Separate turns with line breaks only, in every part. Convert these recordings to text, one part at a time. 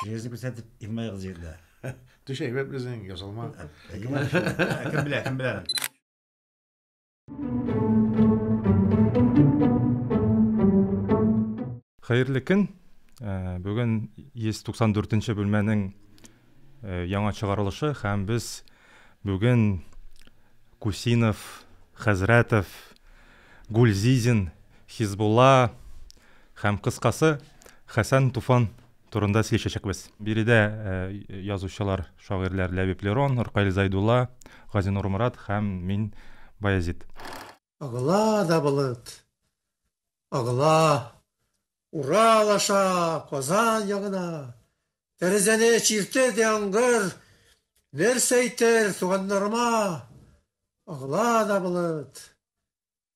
Җирне күрсәтеп, Ирмә кыз җирдә. Төш әйбәт
безнең, ясалма.
Кем белә, кем белә.
Хәерле көн. Э, бүген 194 нче бүлмәнең яңа чыгарылышы һәм без бүген Кусинов, Хәзрәтов, Гульзизин, Хизбулла һәм, кыскасы, Хәсән Туфан турында сөйләшәчәкбез. Биредә язучылар, шагыйрьләр Ләбиб Лерон, Ркаил Зайдулла, Газинур Морат һәм мин, Баязит. Агыла
да болыт. Агыла. Урал аша, Казан ягына. Тәрәзәне чиртер яңгыр. Нәрсә әйтер туганнарыма? Агыла да болыт.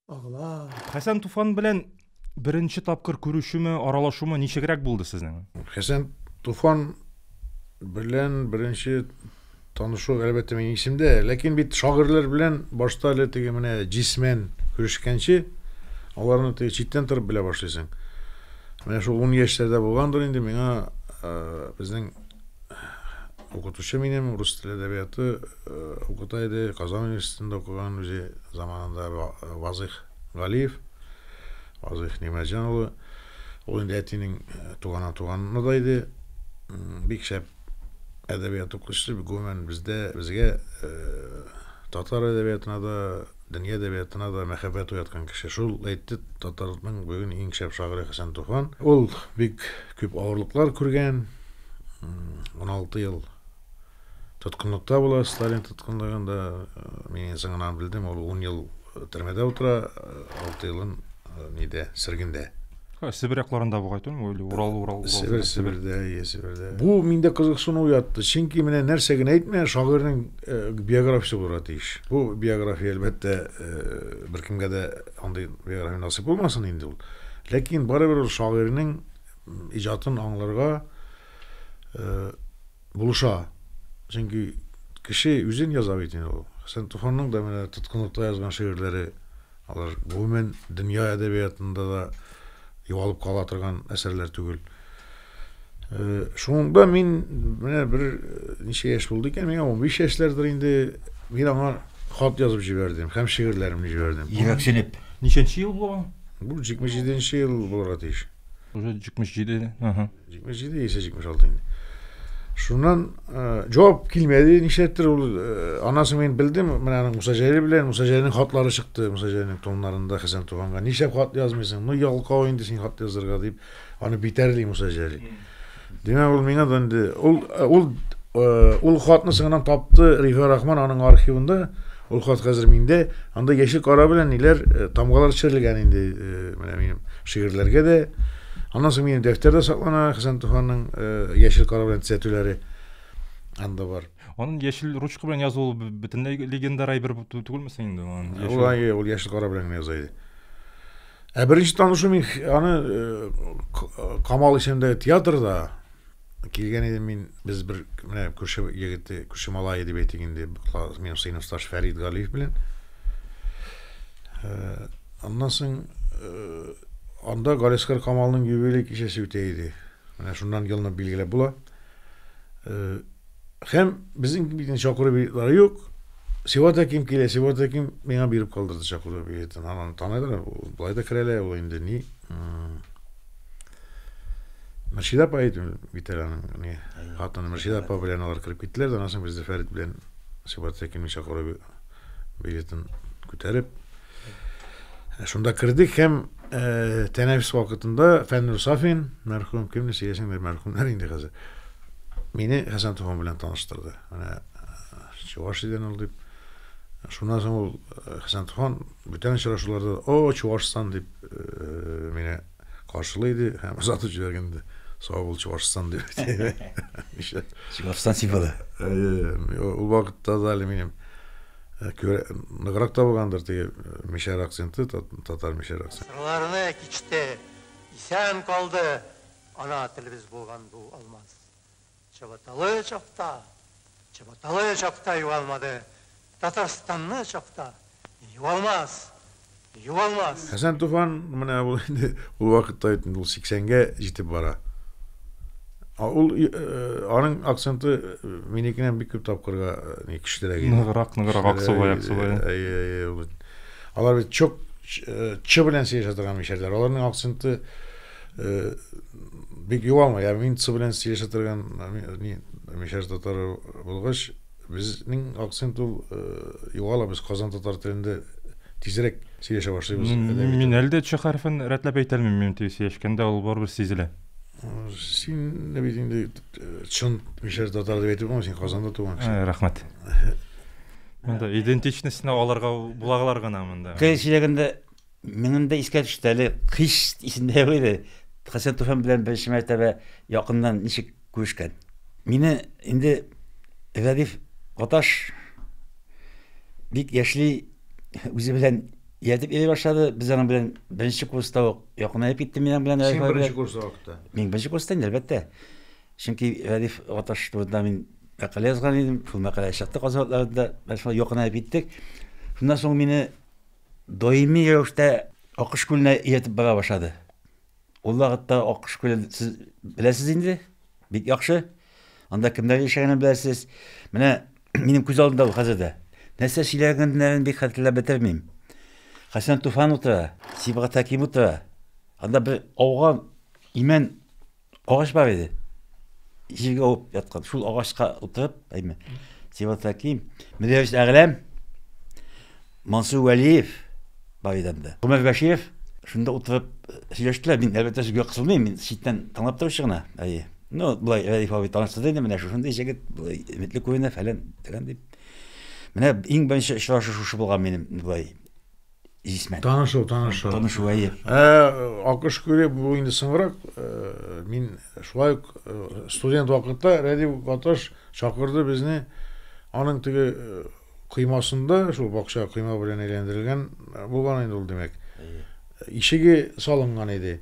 Агыла. Хәсән Туфан
белән Беренче тапкыр күрешүме, аралашуымы ничегрәк булды сезнең? Хәсән
Туфан белән беренче танышу әлбәттә минем исемдә, ләкин бит шагырлар белән башта әле теге менә җисмен күрешкәнче, аларны теге читтән торып белә башлыйсың. Менә шул 10 яшьләрдә булгандыр инде миңа э, безнең укытучы минем рус теле әдәбияты э, укыта иде, Казан университетында укыган үзе заманында Вазых Галиев Вазыйх Нигъмәтҗан улы, ул инде әтинең туганнан туганны да иде. Бик шәп әдәбият укучысы, гомумән бездә, безгә татар әдәбиятына да, дөнья әдәбиятына да мәхәббәт уяткан кеше. Шул әйтте татарның бүген иң шәп шагыйре Хәсән Туфан. Ул бик күп авырлыклар күргән, 16 ел Тоткынлыкта була, Сталин тоткынлыгында. Мин соңынан белдем, ул 10 ел төрмәдә утыра, 6 елын нидә, сөргендә. Себер якларында
бугай түгел или Урал, Урал, Урал. Себер, Себердә, иә,
Себердә. Бу миндә кызыксыну уятты. Чөнки менә нәрсә генә әйтмә, шагыйрьнең биографиясе булырга тиеш. Бу биография, әлбәттә, беркемгә дә андый биография насыйп булмасын инде ул. Ләкин барыбер ул шагыйрьнең иҗатын аңларга, булыша. Чөнки кеше үзен яза бит инде ул. Хәсән Туфанның да менә тоткынлыкта язган шигырьләре алар гомумән дөнья әдәбиятында да югалып кала торган әсәрләр түгел. Э, шунда мин менә бер э, ничә яшь булды икән, миңа 15 яшьләрдер инде мин аңа хат язып җибәрдем һәм шигырьләремне җибәрдем. Йөрәксенеп.
Ничәнче ел
бу? Бу 77
нче ел булырга тиеш. Уже
77, ага. 77
яисә 76 инде. Шуннан җавап килмәде, нишләптер ул анасы мин белдем, менә аның Муса Җәлил белән Муса Җәлилнең хатлары чыкты, Муса Җәлилнең тоннарында Хәсән Туганга нишләп хат язмыйсың? Ну ялкау инде син хат язырга дип, аны битәрли Муса Җәлил. Димәк, ул миңа да инде ул ул ул хатны соңыннан тапты Рифа Рахман аның архивында. Ул хат хәзер миндә. Анда яшел кара белән ниләр тамгалар төшерелгән инде, менә минем шигырьләргә дә Аннан соң минем дәфтәрдә саклана Хәсән Туфанның яшел кара белән төзәтүләре анда бар. Анын яшел ручка
белән язуы бөтенләй легендар әйбер түгелме соң инде? Ул әйе, ул яшел
кара белән яза иде. Ә беренче танышу мин аны Камал исемендәге театрда Килгән идем мин, без бер менә күрше егете, күрше малае дип әйтик инде, минем сыйныфташ Фәрид Галиев белән. Э, аннан соң э, анда Галискар Камалның юбилей кичәсе үтә иде. Менә шуннан елны билгеләп була. Э, Һәм безнең бит чакыру билетлары юк. Сиват Әким килә, Сиват Әким миңа биреп калдырды чакыру билетын. Анан таныйлар, былай да керәләр, ул инде ни. Мөршидә апа әйтү бит әле аның ни. Хатыны Мөршидә апа белән алар кереп киттеләр дә, аннан соң без дә Фәрит белән Сиват Әкимнең чакыру билетын күтәреп, Шунда кердек һәм э, тәнәфес вакытында Фәннур Сафин, мәрхүм, кемне сөйләсәңдер, мәрхүмнәр инде хәзер, мине Хәсән Туфан белән таныштырды. Менә чуваш иден ул дип. Шуннан соң ул э, Хәсән Туфан бүтән очрашуларда о, Чувашстан дип э, мине каршылый иде һәм озатып җибәргәнде. Сау бул Чувашстан дип. Чувашстан
символы. Э,
ул вакытта да әле минем Күрә, ныграк табылгандыр теге мишәр акценты, татар мишәр акценты. Сырларны кичте,
исән калды ана телебез булган бу алмаз. Чабаталы чакта, чабаталы чакта югалмады, Татарстанны чакта югалмас! Юалмас!
Хәсән Туфан, менә ул инде ул вакытта бит инде ул 80 гә җитеп бара. А ул аның акценты минекеннән бик күп тапкырга ни көчлерәк иде. Ныграк, ныграк
аксубай, аксубай. Әйе, әйе, ул.
Алар бит чок чы белән сөйләшә торган мишәрләр. Аларның акценты бик юалмый. Ә мин цы белән сөйләшә торган мишәр татары булгач, Безнең акцент ул э, югала без Казан татар телендә тизрәк сөйләшә башлыйбыз. Мин әле дә ч
хәрефен рәтләп әйтә алмыйм, мин тиз сөйләшкәндә ул барыбер сизелә. Син
дә бит инде э, чын мишәр татар дип әйтеп булмый, син Казанда туган кеше. Э, рәхмәт.
Монда идентичностьны алырга булаглар гына монда. Кыйын сөйләгәндә
Минем дә искә төште әле кыш исемдә юк иде. Хәсән Туфан белән беренче мәртәбә якыннан ничек күрешкән. Мине инде Рәдиф Гаташ бик яшьли үзе белән ияртеп йөри башлады. Без аның белән беренче курста ук якынаеп киттем мин аның белән. Син Рәдиф беренче курста вакытта.
Мин беренче курста инде, әлбәттә.
Чөнки Рәдиф Гаташ турында мин мәкалә язган идем. Шул мәкалә чыкты Казан атларында. Без шулай якынаеп киттек. Шуннан соң мине Даими рәвештә Акыш күленә ияртеп бара башлады. Ул вакытта Акыш күлен сез беләсез инде, бик яхшы. Анда кемнәр яшәгәнен беләсез. Менә минем күз алдымда ул хәзер дә. Нәрсә сөйләгәннәрен бик хәтерләп бетермим. Хәсән Туфан утыра, Сибгат Хәким утыра. Анда бер ауган имән Агач бар иде. Җиргә авып яткан. Шул агачка утырып, әйме. Сиват Хәким, Мөдәррис Әгъләм, Мансур Вәлиев бар иде анда. Гомәр Бәширов шунда утырып сөйләштеләр. Мин әлбәттә сүзгә кысылмыйм, мин читтән тыңлап торучы гына. Әйе. Ну, былай Рәиф абый таныштырды инде, менә шушындый җегет, былай өметле күренә, фәлән, фәлән дип. Менә иң беренче очрашу шушы булган минем былай Исмәт. Танышу, танышу. Танышу, әйе. Ә,
акыш күре, бу инде соңрак, э, мин шулай ук э, студент вакытта Рәдип Гаташ чакырды безне аның теге э, коймасында, шул бакча койма белән әйләндерелгән булган инде ул, димәк. Ишеге салынган иде.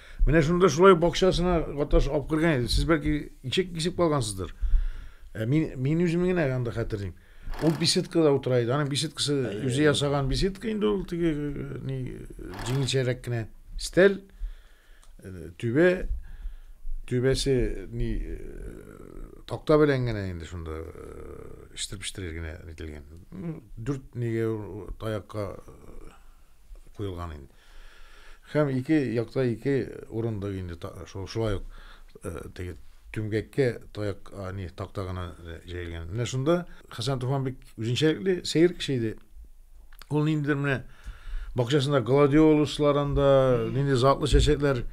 Менә шунда шулай бакчасына катнашып алып кергән иде. Сез бәлки ишек кисеп калгансыздыр. Ә мин мин үзем генә анда хәтерлим. Ул беседкада утыра иде. Аның беседкасы үзе ясаган беседка инде ул теге ни җиңелчәрәк кенә стәл түбә түбәсе ни такта белән генә инде шунда иштеп-иштеп генә ителгән. Дүрт нигә таякка куелган инде. Һәм ике якта ике урында инде шулай ук теге түмгәккә таяк не такта гына җәелгән. Менә шунда Хәсән Туфан бик үзенчәлекле сәер кеше иде. Ул ниндидер менә бакчасында гладиолуслар анда, нинди затлы чәчәкләр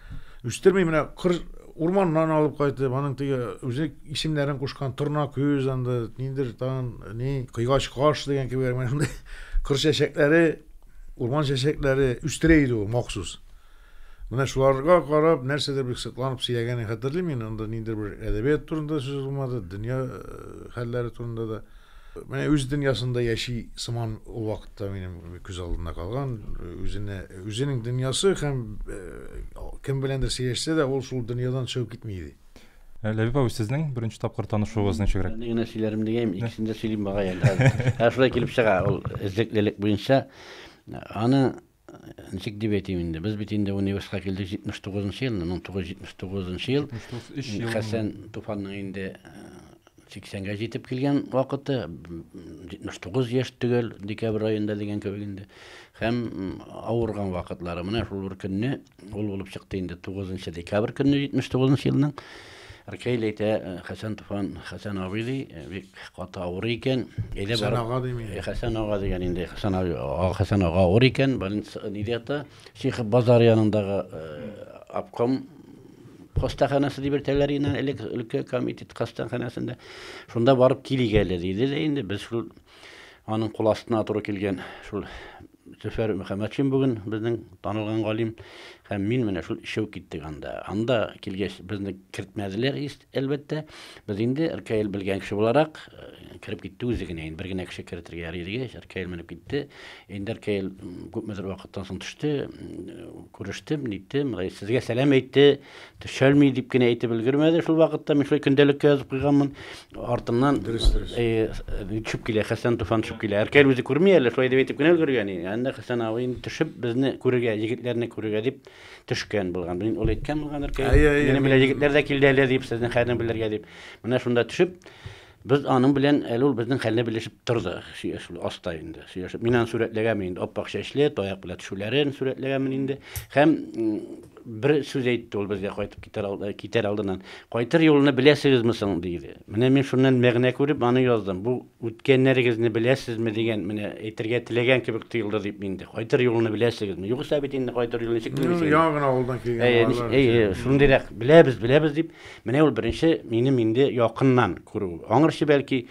үстерми, менә кыр урманнан алып кайтып, аның теге үзе исемнәрен кушкан торна күз анда, ниндидер тагын ни, кыйгач каш дигән кебек, менә шундый кыр чәчәкләре Урман чәчәкләре үстерә иде ул махсус. Менә шуларга карап, нәрсәдер бик сокланып сөйләгәнен хәтерлим мин. Анда ниндер бер әдәбият турында сүз булмады, дөнья э, хәлләре турында да. Менә үз дөньясында яши сыман ул вакытта минем күз алдында калган. Үзенә, үзенең дөньясы һәм э, кем беләндер сөйләшсә дә, ул шул дөньядан чыгып китми иде. Э, Ләбиб абый,
сезнең беренче тапкыр танышуыгыз ничегрәк? Ни генә сөйләрем дигәйем,
икесен дә сөйлим багай әле хәзер. Ә шулай килеп чыга, ул эзлеклелек буенча. Аны, ничек дип әйтим инде, без бит инде университетка килдек 79 нчы ел, 1979 ел. 3 ел. Хәсән Туфанның инде 80-гә җитеп килгән вакыты, 79 яшь төгәл декабрь аенда дигән кебек инде. Һәм авырган вакытлары менә шул бер көнне ул булып чыкты инде 9 декабрь көнне 79 елның. Ркейл әйтә, э, Хәсән Туфан, Хәсән абый ди, э, бик каты авыр икән. Әйдә Хәсән ага
дими. Э, Хәсән ага дигән инде,
Хәсән ага, Хәсән ага авыр икән, больница ниде ята? Шихов базар янындагы обком хастаханәсе дип йөртәләр иде элек өлкә комитет хастаханәсендә шунда барып килик әле диде дә инде без шул аның кул астына туры килгән шул зөфәр мөхәммәтшин бүген безнең танылган галим һәм мин менә шул өчәү киттек анда анда килгәч безне кертмәделәр әлбәттә без инде ркл белгән кеше буларак э, кереп китте үзе генә инде бер генә кеше кертергә ярый дигәч ркл менеп китте Эндәр Кәел күпмедер вакыттан соң төште. Күрештем, ниттем, сезгә сәлам әйтте, төшәлми дип кенә әйтеп өлгермәде. Шул вакытта мин шулай көндәлеккә язып куйганмын. Артыннан дөрес, дөрес. Төшеп килә, Хәсән Туфан төшеп килә. Әркәл үзе күрми әле, шулай дип әйтеп кенә өлгергән. Анда Хәсән абый инде төшеп безне күрергә, егетләрне күрергә дип төшкән булган. Мин ул әйткән булган Әркәй. Минем белән егетләр дә килде әле дип, сезнең хәлне белергә дип. Менә шунда төшеп Без аның белән, әле ул безнең хәлне белешеп торды, сөйләшү аста инде, сөйләшеп. Мин аны сурәтләгәнмен инде, ап-ак чәчле, таяк белән төшүләрен сурәтләгәнмен инде. Һәм бер сүз әйтте ул безгә кайтып китәр, алды, китәр алдыннан. Кайтыр юлны беләсегезме соң, диде. Менә мин шуннан мәгънә күреп аны яздым. Бу үткәннәрегезне беләсезме дигән, менә әйтергә теләгән кебек тоелды дип инде. Кайтыр юлны беләсегезме? Югыйсә бит инде кайтыр юлны ничек белмисең? Яңа гына авылдан килгән
балалар. Әйе, шундыйрак, беләбез,
беләбез дип, Менә ул беренче минем инде якыннан күрү. Аңырчы бәлки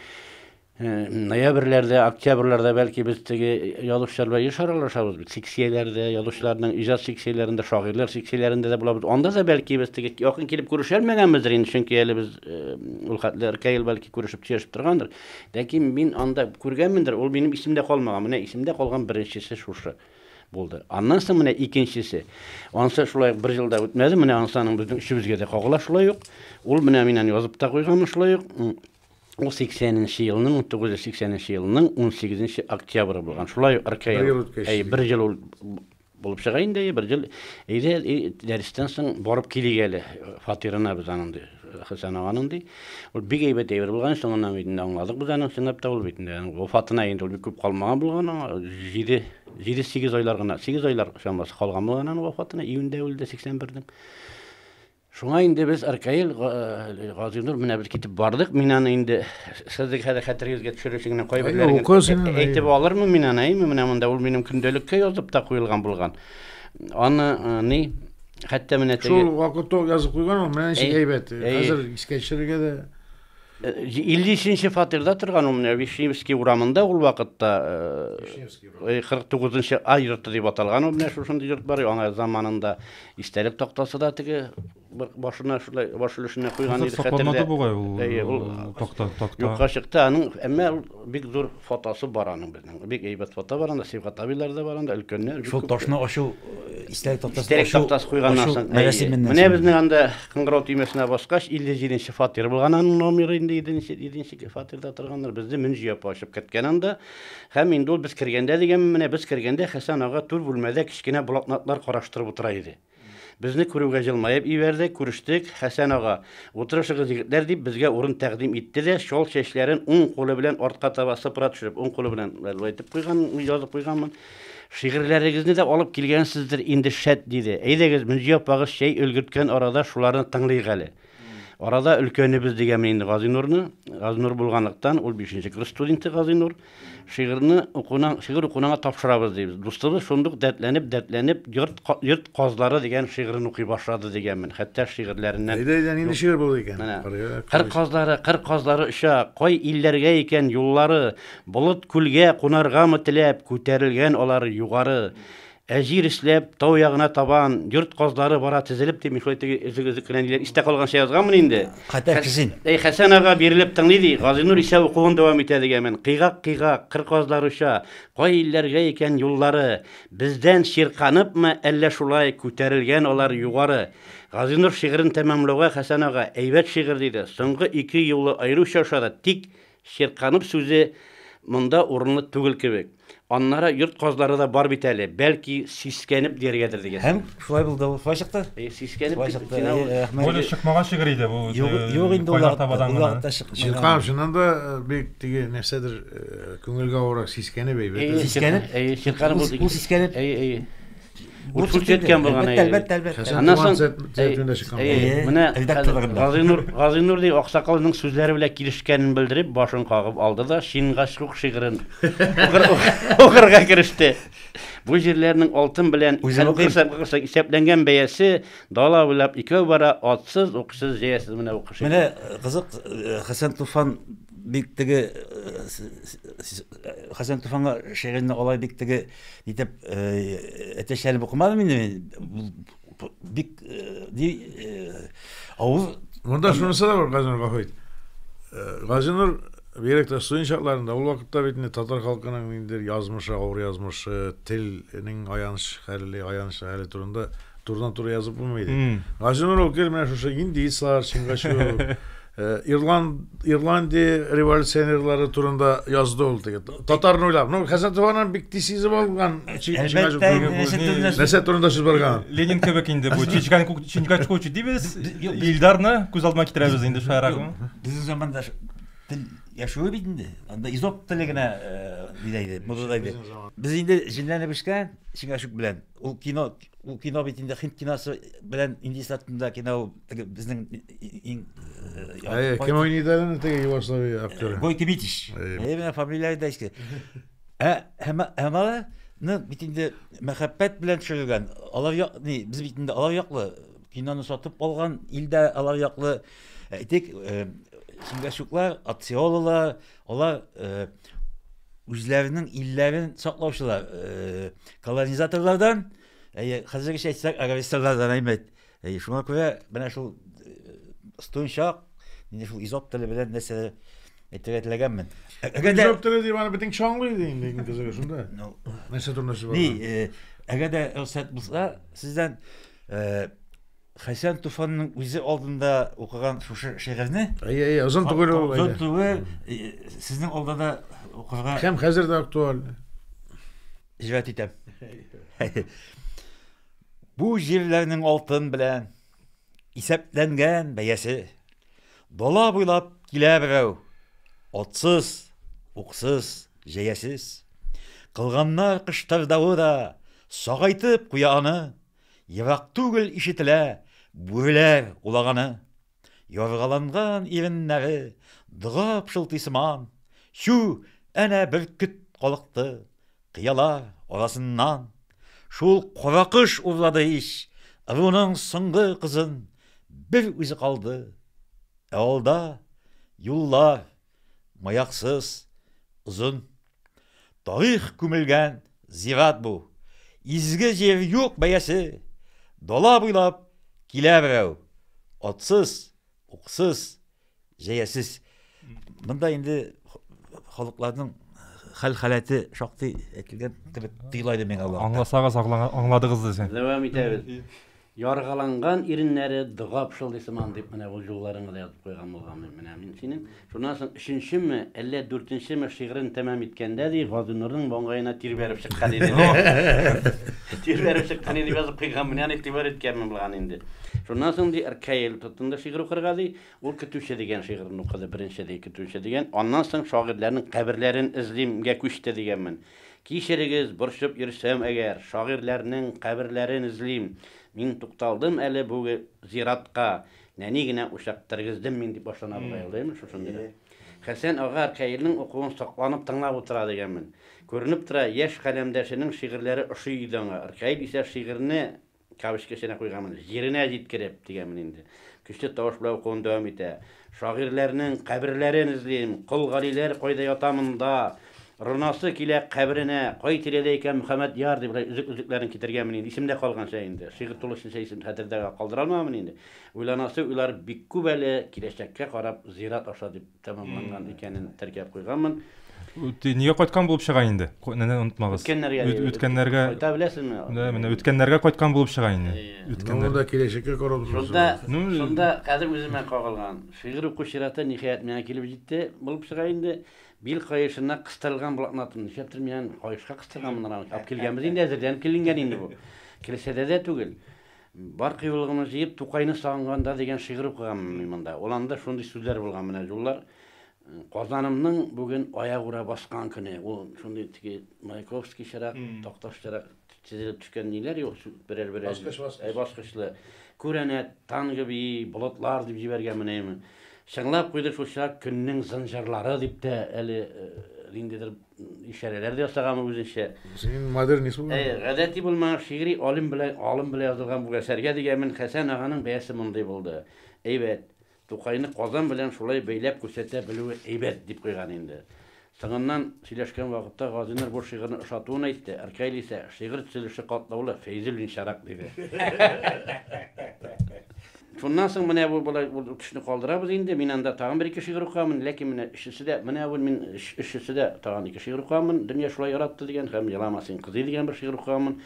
ноябрьләрдә, октябрьләрдә бәлки без теге язучылар белән еш аралашабыз бит. Секцияләрдә, язучыларның иҗат секцияләрендә, шагыйрьләр секцияләрендә дә булабыз. Анда да бәлки без теге якын килеп күрешәлмәгәнбездер инде, чөнки әле без ул хәтле ркаил бәлки күрешеп сөйләшеп торгандыр. Ләкин мин анда күргәнмендер, ул минем исемдә калмаган. Менә исемдә калган беренчесе шушы. Булды. Аннан соң менә икенчесе. Ансы шулай бер ел да үтмәде, менә ансы аның безнең өчебезгә дә кагыла шулай ук. Ул менә миннән язып та куйган шулай ук. Ул 80-нче елның, 1980-нче елның 18-нче октябры булган. Шулай ук Аркай. Бер ел үткәч. Әй, бер ел ул булып чыга инде, бер ел. Әйдә, дәрестән соң барып килик әле фатирына без аның, ди. Хәсән аганың ди. Ул бик әйбәт әйбер булган, соңыннан бит инде аңладык без аның чынлап та ул бит инде аның вафатына инде ул бик күп калмаган булган аңа 7 7-8 айлар гына, 8 айлар чамасы калган булган аның вафатына, июньдә үлде 81-нең. Шуңа инде без Аркаил э, Газинур менә без китеп бардык. Мин аны инде сезнең хәзер хәтерегезгә төшерүче генә кайберләрен әйтеп алырмын мин аны, әйме, менә монда ул минем көндәлеккә язып та куелган булган. Аны э, ни Хәтта менә теге... Шул вакытта ук язып
куйган ул, менә ничек әйбәт. Хәзер искә төшерергә дә. 53-нче э, фатирда торган ул менә Вишневский урамында ул вакытта 49-нчы э, э, А йорты дип аталган ул менә шушындый йорт бар, аңа заманында истәлек тактасы да теге башына шулай баш өлешенә куйган иде хәтерлә. Сакланмады бугай
ул такта такта. Юкка чыкты, аның
әмма бик зур Фотосы бар аның безнең. Бик әйбәт фото бар анда, Сибгат абыйлар да бар анда, өлкәннәр. Шул ташны ачу,
истәлек тактасы ачу. Истәлек тактасы
куйганнан соң. Менә безнең анда кыңгырау төймәсенә баскач, 57 нче фатир булган аның номеры инде, 7 нче, 7 нче фатирда торганнар. Безне Мөнҗи апа ачып керткән анда. Һәм инде ул без кергәндә дигәнме, менә без кергәндә Хәсән ага түр бүлмәдә кечкенә блокнотлар караштырып утыра иде. Безне күрүгә җылмаеп ибәрде, күрештек, Хәсән ага, утырышыгыз, егетләр, дип, безгә урын тәкъдим итте дә, чал чәчләрен уң кулы белән артка таба сыпыра төшереп, уң кулы белән болай итеп куйган, язып куйганмын. Шигырьләрегезне дә алып килгәнсездер инде, шәт, диде. Әйдәгез, Мөнҗи апагыз чәй өлгерткән арада шуларны тыңлыйк әле. Арада өлкәнебез дигәнмен инде Газинурны. Газинур булганлыктан, ул бишенче курс студенты Газинур. Шигырьне укуның, шигырь укуныңа тапшырабыз, дибез. Дустыбыз шундук дәртләнеп, дәртләнеп, Йорт, йорт казлары дигән шигырен укый башлады, дигәнмен. Хәтта шигырьләреннән. Әйдә, әйдә, нинди шигырь булды
икән? Менә. Кыр казлары,
кыр казлары оча, кай илләргә икән юллары, Болыт күлгә кунаргамы теләп, күтәрелгән алар югары. Ә җир эшләп, тау ягына табан, йорт казлары бара тезелеп, дип Михаил теге өзек-өзек кенә ниләр истә калганча язганмын инде. Хәтәр Хәс- кизен. Әй,
Хәсән ага
бирелеп тыңлый, ди, Газинур исә укуын дәвам итә, дигәнмен. Кыйгак-кыйгак, кыр казлары оча, кай илләргә икән юллары? Бездән чирканыпмы, әллә шулай күтәрелгән алар югары? Газинур шигырен тәмамлауга Хәсән ага, Әйбәт шигырь, диде. Соңгы ике юлы аеруча ошады, тик Чирканып сүзе монда урынлы түгел кебек. Аннары йорт казлары да бар бит әле, бәлки, сискәнеп дияргәдер дигәсең. Һәм шулай булды ул. Шулай
чыкты. Әйе, сискәнеп Шулай чыкты.
киттек. Әйе, рәхмәт. Бу
эле чыкмаган шигырь иде бу. Юк, юк инде ул Кайнар
Табадан гына. вакытта чыкмаган. Чирканов чыннан
да бик теге нәрсәдер күңелгә авырак, сискәнеп әйбәт. Сискәнеп? Әйе,
чирканып. Ул сискәнеп. Әйе, әйе.
Бу
сүрчәткән булган. Әлбәттә, әлбәттә. Аннан соң
менә
Газинур, Газинур ди аксакалның сүзләре белән килешкәнен белдереп, башын кагып алды да Шингач рух шигырен укырга кереште. Бу җирләрнең алтын белән исәпләнгән бәясе дала буйлап икәү бара, атсыз,
уксыз,
җәясез менә
укыш.
Менә кызык, Хәсән
Туфан
бик
теге Хәсән Туфанга шигырьне алай бик теге Итеп, әтәчләрен укымадым инде мин. Бик ди авыз. Монда шунысы да бар,
Газинур Гафит. Газинур бигрәк тә студент чакларында ул вакытта бит инде татар халкының ниндидер язмышы, авыр язмышы, телнең аяныч хәле, аяныч хәле турында турыдан-туры язып булмый иде. Газинур ул гел менә шушы индейцлар, чингачгук, Ирландия революционерлары турында язды ул теге. Татарны уйлап. Ну, Хәзәтованың бик тиз сизеп алган. Әлбәттә, нәрсә турында сүз барган? Ленин кебек инде бу.
Чичканку, Чинкачку дибез. Илдарны күз алдына китерәбез инде шаярак. Безнең заманда
тел яшәү бит инде. Анда изоп теле генә диләр иде, музыда иде. Без инде җенләнеп бешкән Чиңгашук белән. Ул кино, ул кино бит инде хит киносы белән индеецлар турында кино. теге безнең иң э,
кем уйныйды әле теге югославия актеры гой кибитич
менә фамилия да иске ә һәм алар ну бит инде мәхәббәт белән төшерелгән алар як ни без бит инде алар яклы киноны сатып алган илдә алар яклы әйтик э, сингачуклар атсиолалар алар э, үзләренең илләрен саклаучылар э, колонизаторлардан әйе хәзергечә әйтсәк агрессорлардан әймәт Әйе, шуңа күрә менә шул стунчак, менә шул изоп теле белән нәрсә әйтергә теләгәнмен. Әгәр дә изоп теле
дип аны битен чаңлый иде инде иң кызыгы шунда. Нәрсә турында сүз Ни, әгәр дә рөхсәт
булса, сездән Хәсән Туфанның үзе алдында укыган шушы шигырьне Әйе, әйе, озын түгел ул.
Озын түгел,
сезнең алда да укырга. Һәм хәзер дә актуаль. Җирәт итәм. Бу җирләрнең алтын белән исәпләнгән бәясе. Дала буйлап килә берәү, отсыз, уксыз, җәясез. Кылганнар кыштырдавы да сагайтып куя аны, ерак түгел ишетелә бүреләр улаганы. Яргаланган иреннәре дога пшылтый сыман, Чү, әнә бөркет калыкты кыялар арасыннан. Шул каракош урлады ич ыруның соңгы кызын, Бер үзе калды, ә алда, юллар, маяксыз, озын. Тарих күмелгән зират бу. Изге җир юк бәясе. Дала буйлап килә берәү. Атсыз, уксыз, җәясез. Монда инде халыкларның хәл-халәте шактый әйтелгән кебек тоела иде миңа вакытта. Аңласагыз,
аңладыгыз дисең. Дәвам итәбез.
Яргаланган иреннәре дога пышылдый сыман, дип менә ул юлларыңа язып куйган булган мин менә мин синең. Шуннан соң өченчеме, әллә дүртенчеме шигырен тәмам иткәндә, ди, Газинурның маңгаена тир бәреп чыккан иде, ди. Тир бәреп чыккан иде, дип язып куйган, менә аны игътибар иткәнмен булган инде. Шуннан соң, ди, Ркаил тотынды шигырь укырга, ди. Ул Көтүче дигән шигырен укыды, беренче, ди, Көтүче дигән. Аннан соң Шагыйрьләрнең каберләрен эзлимгә күчте, дигәнмен. Кичерегез, борчып йөрсәм әгәр, Шагыйрьләрнең каберләрен эзлим. Мин тукталдым әле бүге зиратка, Нәни генә учак тергездем мин, дип башлана бу гаилә, ди, шушындый рәт. Хәсән ага Ркаилнең укуын сокланып тыңлап утыра, дигәнмен. Күренеп тора, яшь каләмдәшенең шигырьләре ошый иде аңа. Ркаил исә шигырьне кавычка эченә куйганмын, җиренә җиткереп, дигәнмен инде. Көчле тавыш белән укуын дәвам итә. Шагыйрьләрнең каберләрен эзлим, Кол Галиләр кайда ята монда, Рнасы килә каберенә, Кай тирәдә икән Мөхәммәдьяр, дип болай өзек-өзекләрен китергәнмен инде, исемдә калганча инде. Шигырь тулысынча исем хәтердә калдыра алмамын инде. Уйланасы уйлар бик күп әле, киләчәккә карап, зират аша дип. тәмамланган икәнен теркәп куйганмын. Нигә
кайткан булып чыга инде? Нәнә онытмагыз. Үткәннәргә. Үткәннәргә. Кайта беләсезме?
Менә менә үткәннәргә
кайткан булып чыга инде. Үткәннәр. Монда киләчәккә
карап торасыз. Шунда, шунда
хәзер үземә кагылган. Шигырь уку чираты ниһаять миңа килеп җитте булып чыга инде. Бил каешына кыстырылган блокнотым. Нишләптер мин аны каешка кыстырганмындыр аны. Алып килгәнбез инде, әзерләнеп киленгән инде бу. Килешәдә дә түгел. Бар кыюлыгымны җыеп, Тукайны сагынганда дигән шигырь укыганмын мин монда. Ул анда шундый сүзләр булган, менә җуллар. Казанымның бүген аягүрә баскан көне. Ул шундый теге Маяковскийчарак, Такташчарак тезелеп төшкән ниләр юк, берәр-берәр. Баскыч, баскыч. Әй, баскычлы. Күрәнәт, танго бии, болытлар дип җибәргән менә. Чыңлап куйды шулчак көннең зынҗырлары дип тә әле ниндидер ишарәләр дә ясаган үзенчә. Синең модерн ис бу.
Әйе, гадәти булмаган
шигъри алим белән алым белән язылган бу әсәргә дигәнмен, Хәсән аганың бәясе мондый булды. Әйбәт. Тукайны Казан белән шулай бәйләп күрсәтә белүе әйбәт, дип куйган инде. Соңыннан сөйләшкән вакытта Газинур бу шигырьне ошатуын әйтте, Ркаил исә, Шигырь төзелеше катлаулы, Фәйзуллинчарак, диде. Шуннан соң менә бу болай ул төшне калдырабыз инде. Мин анда тагын бер ике шигырь укыганмын, ләкин менә өчесе дә, менә бүл мин өч өчесе дә тагын ике шигырь укыганмын, Дөнья шулай яратты дигән һәм Елама син кызый дигән бер шигырь укыганмын.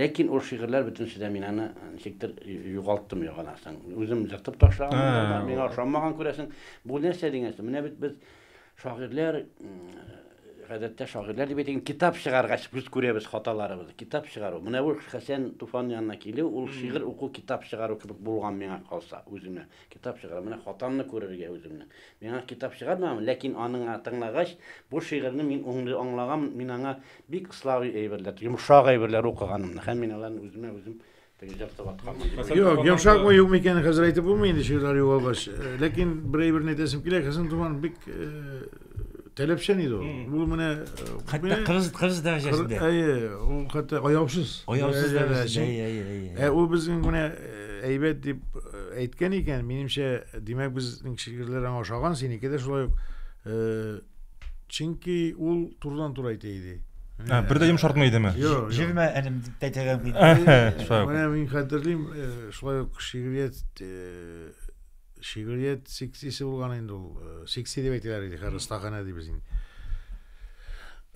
Ләкин ул шигырьләр бөтенесе дә мин аны ничектер югалттым югаласың. Үзем ертып ташлаганмындыр да, миңа ошамаган күрәсең. Бу нәрсә дигән су? Менә бит без Шагыйрьләр, гадәттә шагыйрьләр дип әйтик, китап чыгаргач без күрәбез хаталарыбызны. Китап чыгару. Менә ул Хәсән Туфан янына килү, ул шигырь уку, китап чыгару кебек булган миңа калса, үземә. Китап чыгару. Менә хатамны күрергә үземне. Миңа китап чыгармаган, ләкин аның тыңлагач, бу шигырьне мин уңды аңлаган, мин аңа бик славый әйберләр, йомшак әйберләр укыганымны һәм мин аларны үземә үзем Пенҗәп тә
ваткан мени. Юк, йомшакмы, юкмы икәнен хәзер әйтеп булмый инде, чирләр югалгач. Ләкин бер әйберне әйтәсем килә, Хәсән Туфан бик таләпчән иде ул. Ул менә хәтта кырыс
кырыс дәрәҗәсендә. Әйе, ул хәтта
аяусыз. Аяусыз дәрәҗәсендә.
Әйе, әйе, әйе. Ә ул безнең менә
әйбәт дип әйткән икән, минемчә, димәк, безнең шигырьләр аңа ошаган, синеке дә шулай ук. Чөнки ул турыдан-туры әйтә иде. А, бер дә йомшартмый
идеме? Юк. Җирмә әлем
дип
тәтәгән бит. Менә мин
хәтерлим, э, шулай ук шигърият э, шигърият секциясе булган инде ул. Э, секция дип әйтәләр иде, хәзер остаханә дибез инде.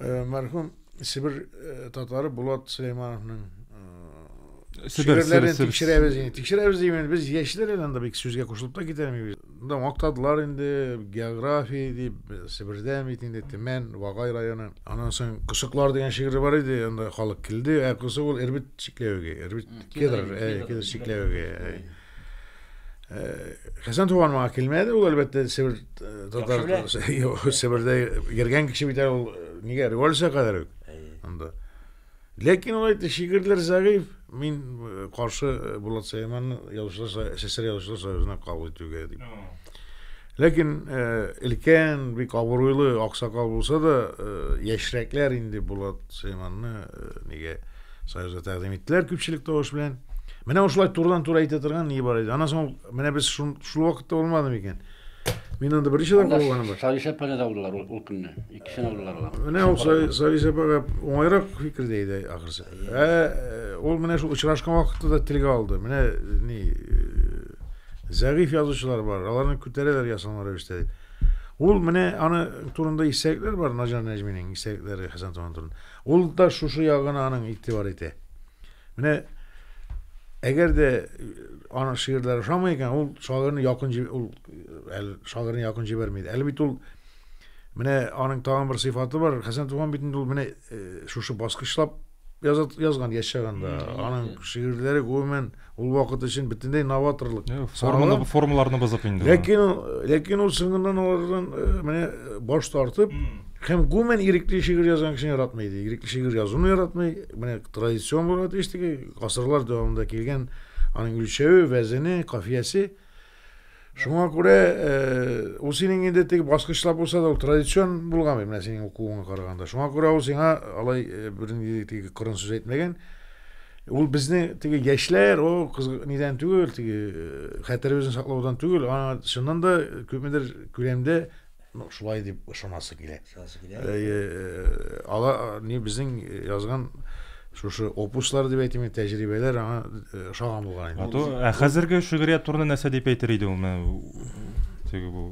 Мәрхүм Себер э, татары Булат Сөләймановның э, шигырьләрен тикшерәбез инде. Тикшерәбез димән, без яшьләр әле анда бик сүзгә кушылып та китәмибез. Монда мактадылар инде география дип, Себердән бит инде Төмән, Вагай районы. Аннан соң Косыклар дигән шигырь бар иде, анда халык килде. Ә Косык ул Эрбит чикләвеге, Эрбит кедр, кедр чикләвеге. Хәсән Туганмага килмәде, ул әлбәттә Себер татар Себердә йөргән кеше бит ул нигә революция кадәр үк. Анда. Ләкин ул әйтте, шигырьләр зәгыйфь, мин каршы Булат Сәйманны язучылар сәсәр язучылар союзына кабул итүгә дип. Ләкин э, өлкән, бик абруйлы аксакал булса да, э, яшьрәкләр инде Булат Сөләйманны э, нигә Союзга тәкъдим иттеләр күпчелек тавыш белән. Менә ошылай турдан тура әйтә торган ни бар иде. Аннан соң менә без шул, шул вакытта булмады микән? Мин анда беренче тапкыр булганым бар. Савис апаны да алдылар ул,
ул көнне. Икесен алдылар алар. Менә ул
Савис апага уңайрак фикердә иде ахрысы. Ә ул менә шул очрашкан вакытта да телгә алды. Менә ни Зәгыйфь язучылар бар, аларны күтәрәләр ясалма рәвештә дип. Ул менә аны турында истәлекләр бар, Наҗар Нәҗминең истәлекләре Хәсән Туфан турында. Ул да шушы ягына аның игътибар итә. Менә әгәр дә аның шигырьләре ошамый икән, ул шагыйрьне якын ул әле шагыйрьне якын җибәрми. Әле бит ул менә аның тагын бер сыйфаты бар. Хәсән Туфан бит инде ул менә шушы баскычлап Язат, язган яшь чагында. Аның шигырьләре гомумән ул вакыт өчен бөтенләй новаторлык. Форманы, формаларны
бозып инде. Ләкин, ләкин ул
соңыннан алардан менә баш тартып, һәм гомумән ирекле шигырь язган кешене яратмый иде. Ирекле шигырь язуны яратмый. Менә традицион булган тиештеге, гасырлар дәвамында килгән аның үлчәве, вәзене, кафиясе. Шуңа күрә ул синең инде теге баскычлап булса да ул традицион булган бит, менә синең укуыңа караганда. Шуңа күрә ул сиңа алай бернинди теге кырын сүз әйтмәгән. Ул безне теге яшьләр, о, кыз нидән түгел, теге хәтеребезне саклаудан түгел, аңа чыннан да күпмедер күләмдә Ну, шулай дип ышанасы килә. Ышанасы килә. Э, ала ни безнең язган шушы опуслар дип әйтим, тәҗрибәләр аңа э, ошаган булган инде. Ату, ә хәзерге
шигърият турында нәрсә дип әйтер иде ул? Теге бу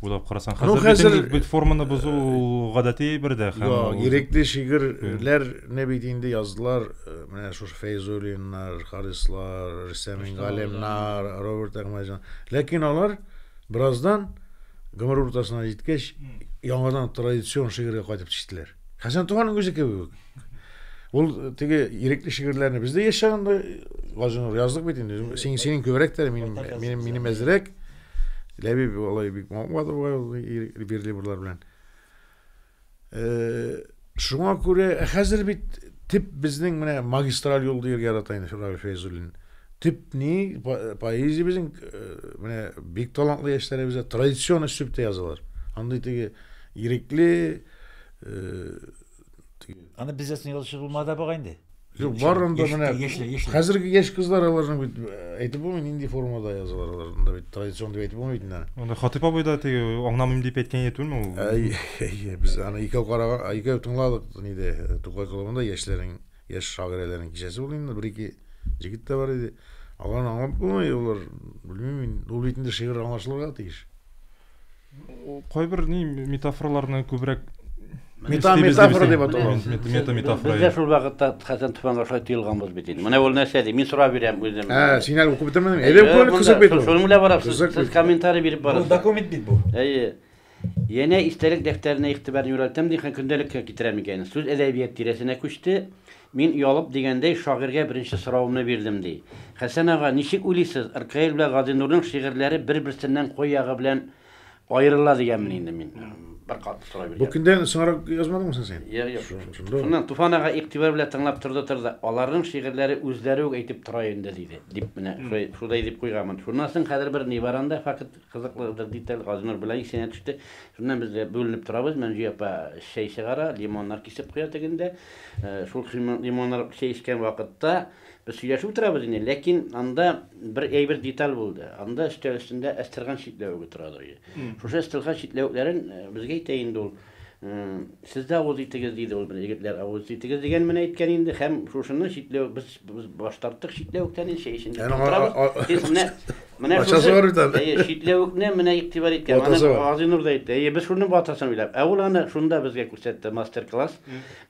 уйлап карасаң, ну, хәзер бит бит форманы бозу э, гадәти бер дә һәм Йо, ирекле
шигырьләрне бит инде яздылар, э, менә шушы Фәйзуллиннар, Харислар, Рөстәм Галимнар, Роберт Әхмәҗан. Ләкин алар Бераздан, гомер уртасына җиткәч, яңадан традицион шигырьгә кайтып төштеләр. Хәсән Туфанның үзе кебек үк. Ул теге ирекле шигырьләрне без дә яшь чагында Газинур яздык бит инде. Син синең күбрәк тә минем минем минем әзрәк. Ләбиб алай бик мавыгады бугай ул бирле бурлар белән. Шуңа күрә, ә хәзер бит тип безнең менә магистраль юл дияргә ярата инде Фиргаль Фәйзуллин. Тип ни поэзия безнең э, менә бик талантлы яшьләребезгә традицион өслүбтә язалар. Андый теге ирекле э, Аны
бездә соң язучы булмады бугай инде.
Юк, барында менә яшьләр, яшьләр. Хәзерге яшь
кызлар
аларның бит әйтеп булмый нинди формада язалар аларында бит традицион дип әйтеп булмый бит инде. Анда Хатыйп абый да теге
аңламыйм дип әйткән иде түгелме ул? Әйе, без
аны икәү караган, икәү тыңладык нидә Тукай клубында яшьләрнең, яшь шагыйрәләрнең кичәсе булды инде, бер-ике җегет тә бар иде. Аларны аңлап булмый, алар белмим мин, ул бит инде шигырь аңлашылырга тиеш.
кайбер ни метафораларны күбрәк Мета
метафора дип аталган. Мета метафора. Бездә
шул вакытта
Хәсән Туфанга шулай тыелганбыз бит инде. Менә ул нәрсә ди? Мин сорап бирәм үзем. Ә, син әле укып бетермәдең.
Әйдә күңел кызык бит. Шуның белән барасыз. Сез
комментарий биреп барасыз. Бу документ бит бу. Әйе. Янә истәлек дәфтәренә игътибарны юнәлтәм ди, һәм көндәлеккә китерәм икән. Сүз әдәбият тирәсенә күчте. Мин оялып дигәндәй шагыйрьгә беренче соравымны бирдем, ди. Хәсән ага, ничек уйлыйсыз, РКЛ белән Газинурның шигырьләре бер-берсеннән кой ягы белән аерыла дигәнмени инде мин? Бер катлы сорау биргән. Бу көндән соңрак язмадыңмы
соң син? Юк, юк.
Шуннан Туфан ага игътибар белән тыңлап торды-торды, аларның шигырьләре үзләре үк әйтеп тора инде, диде, дип менә шулай дип куйганмын. Шуннан соң хәзер бер ни бар анда, факт. Кызыклыдыр ди, тел Газинур белән исенә төште. Шуннан без дә бүленеп торабыз, Мәнҗү апа чәй чыгара, лимоннар кисеп куя тегендә. Шул лимоннар чәй эчкән вакытта без сөйләшеп утырабыз инде, ләкин анда бер әйбер деталь булды. Анда өстәл өстендә әстерхан читләвеге торадыр иде. Шушы әстерхан читләвекләрен безгә әйтә инде ул. Сез дә авыз итегез, диде ул. Менә егетләр авыз итегез дигән менә әйткән инде. Һәм шушыны читләү без без баш тарттык читләвектән инде чәй эчендә Әнә, утырабыз. а- а- Сез менә менә Ачасы шушы- бар бит әле. Әйе, читләвекне менә игътибар иткән. Аны Ватасы бар. Газинур да әйтте. Әйе, без шуны ватасын уйлап. Ә ул аны шунда безгә күрсәтте мастер-класс.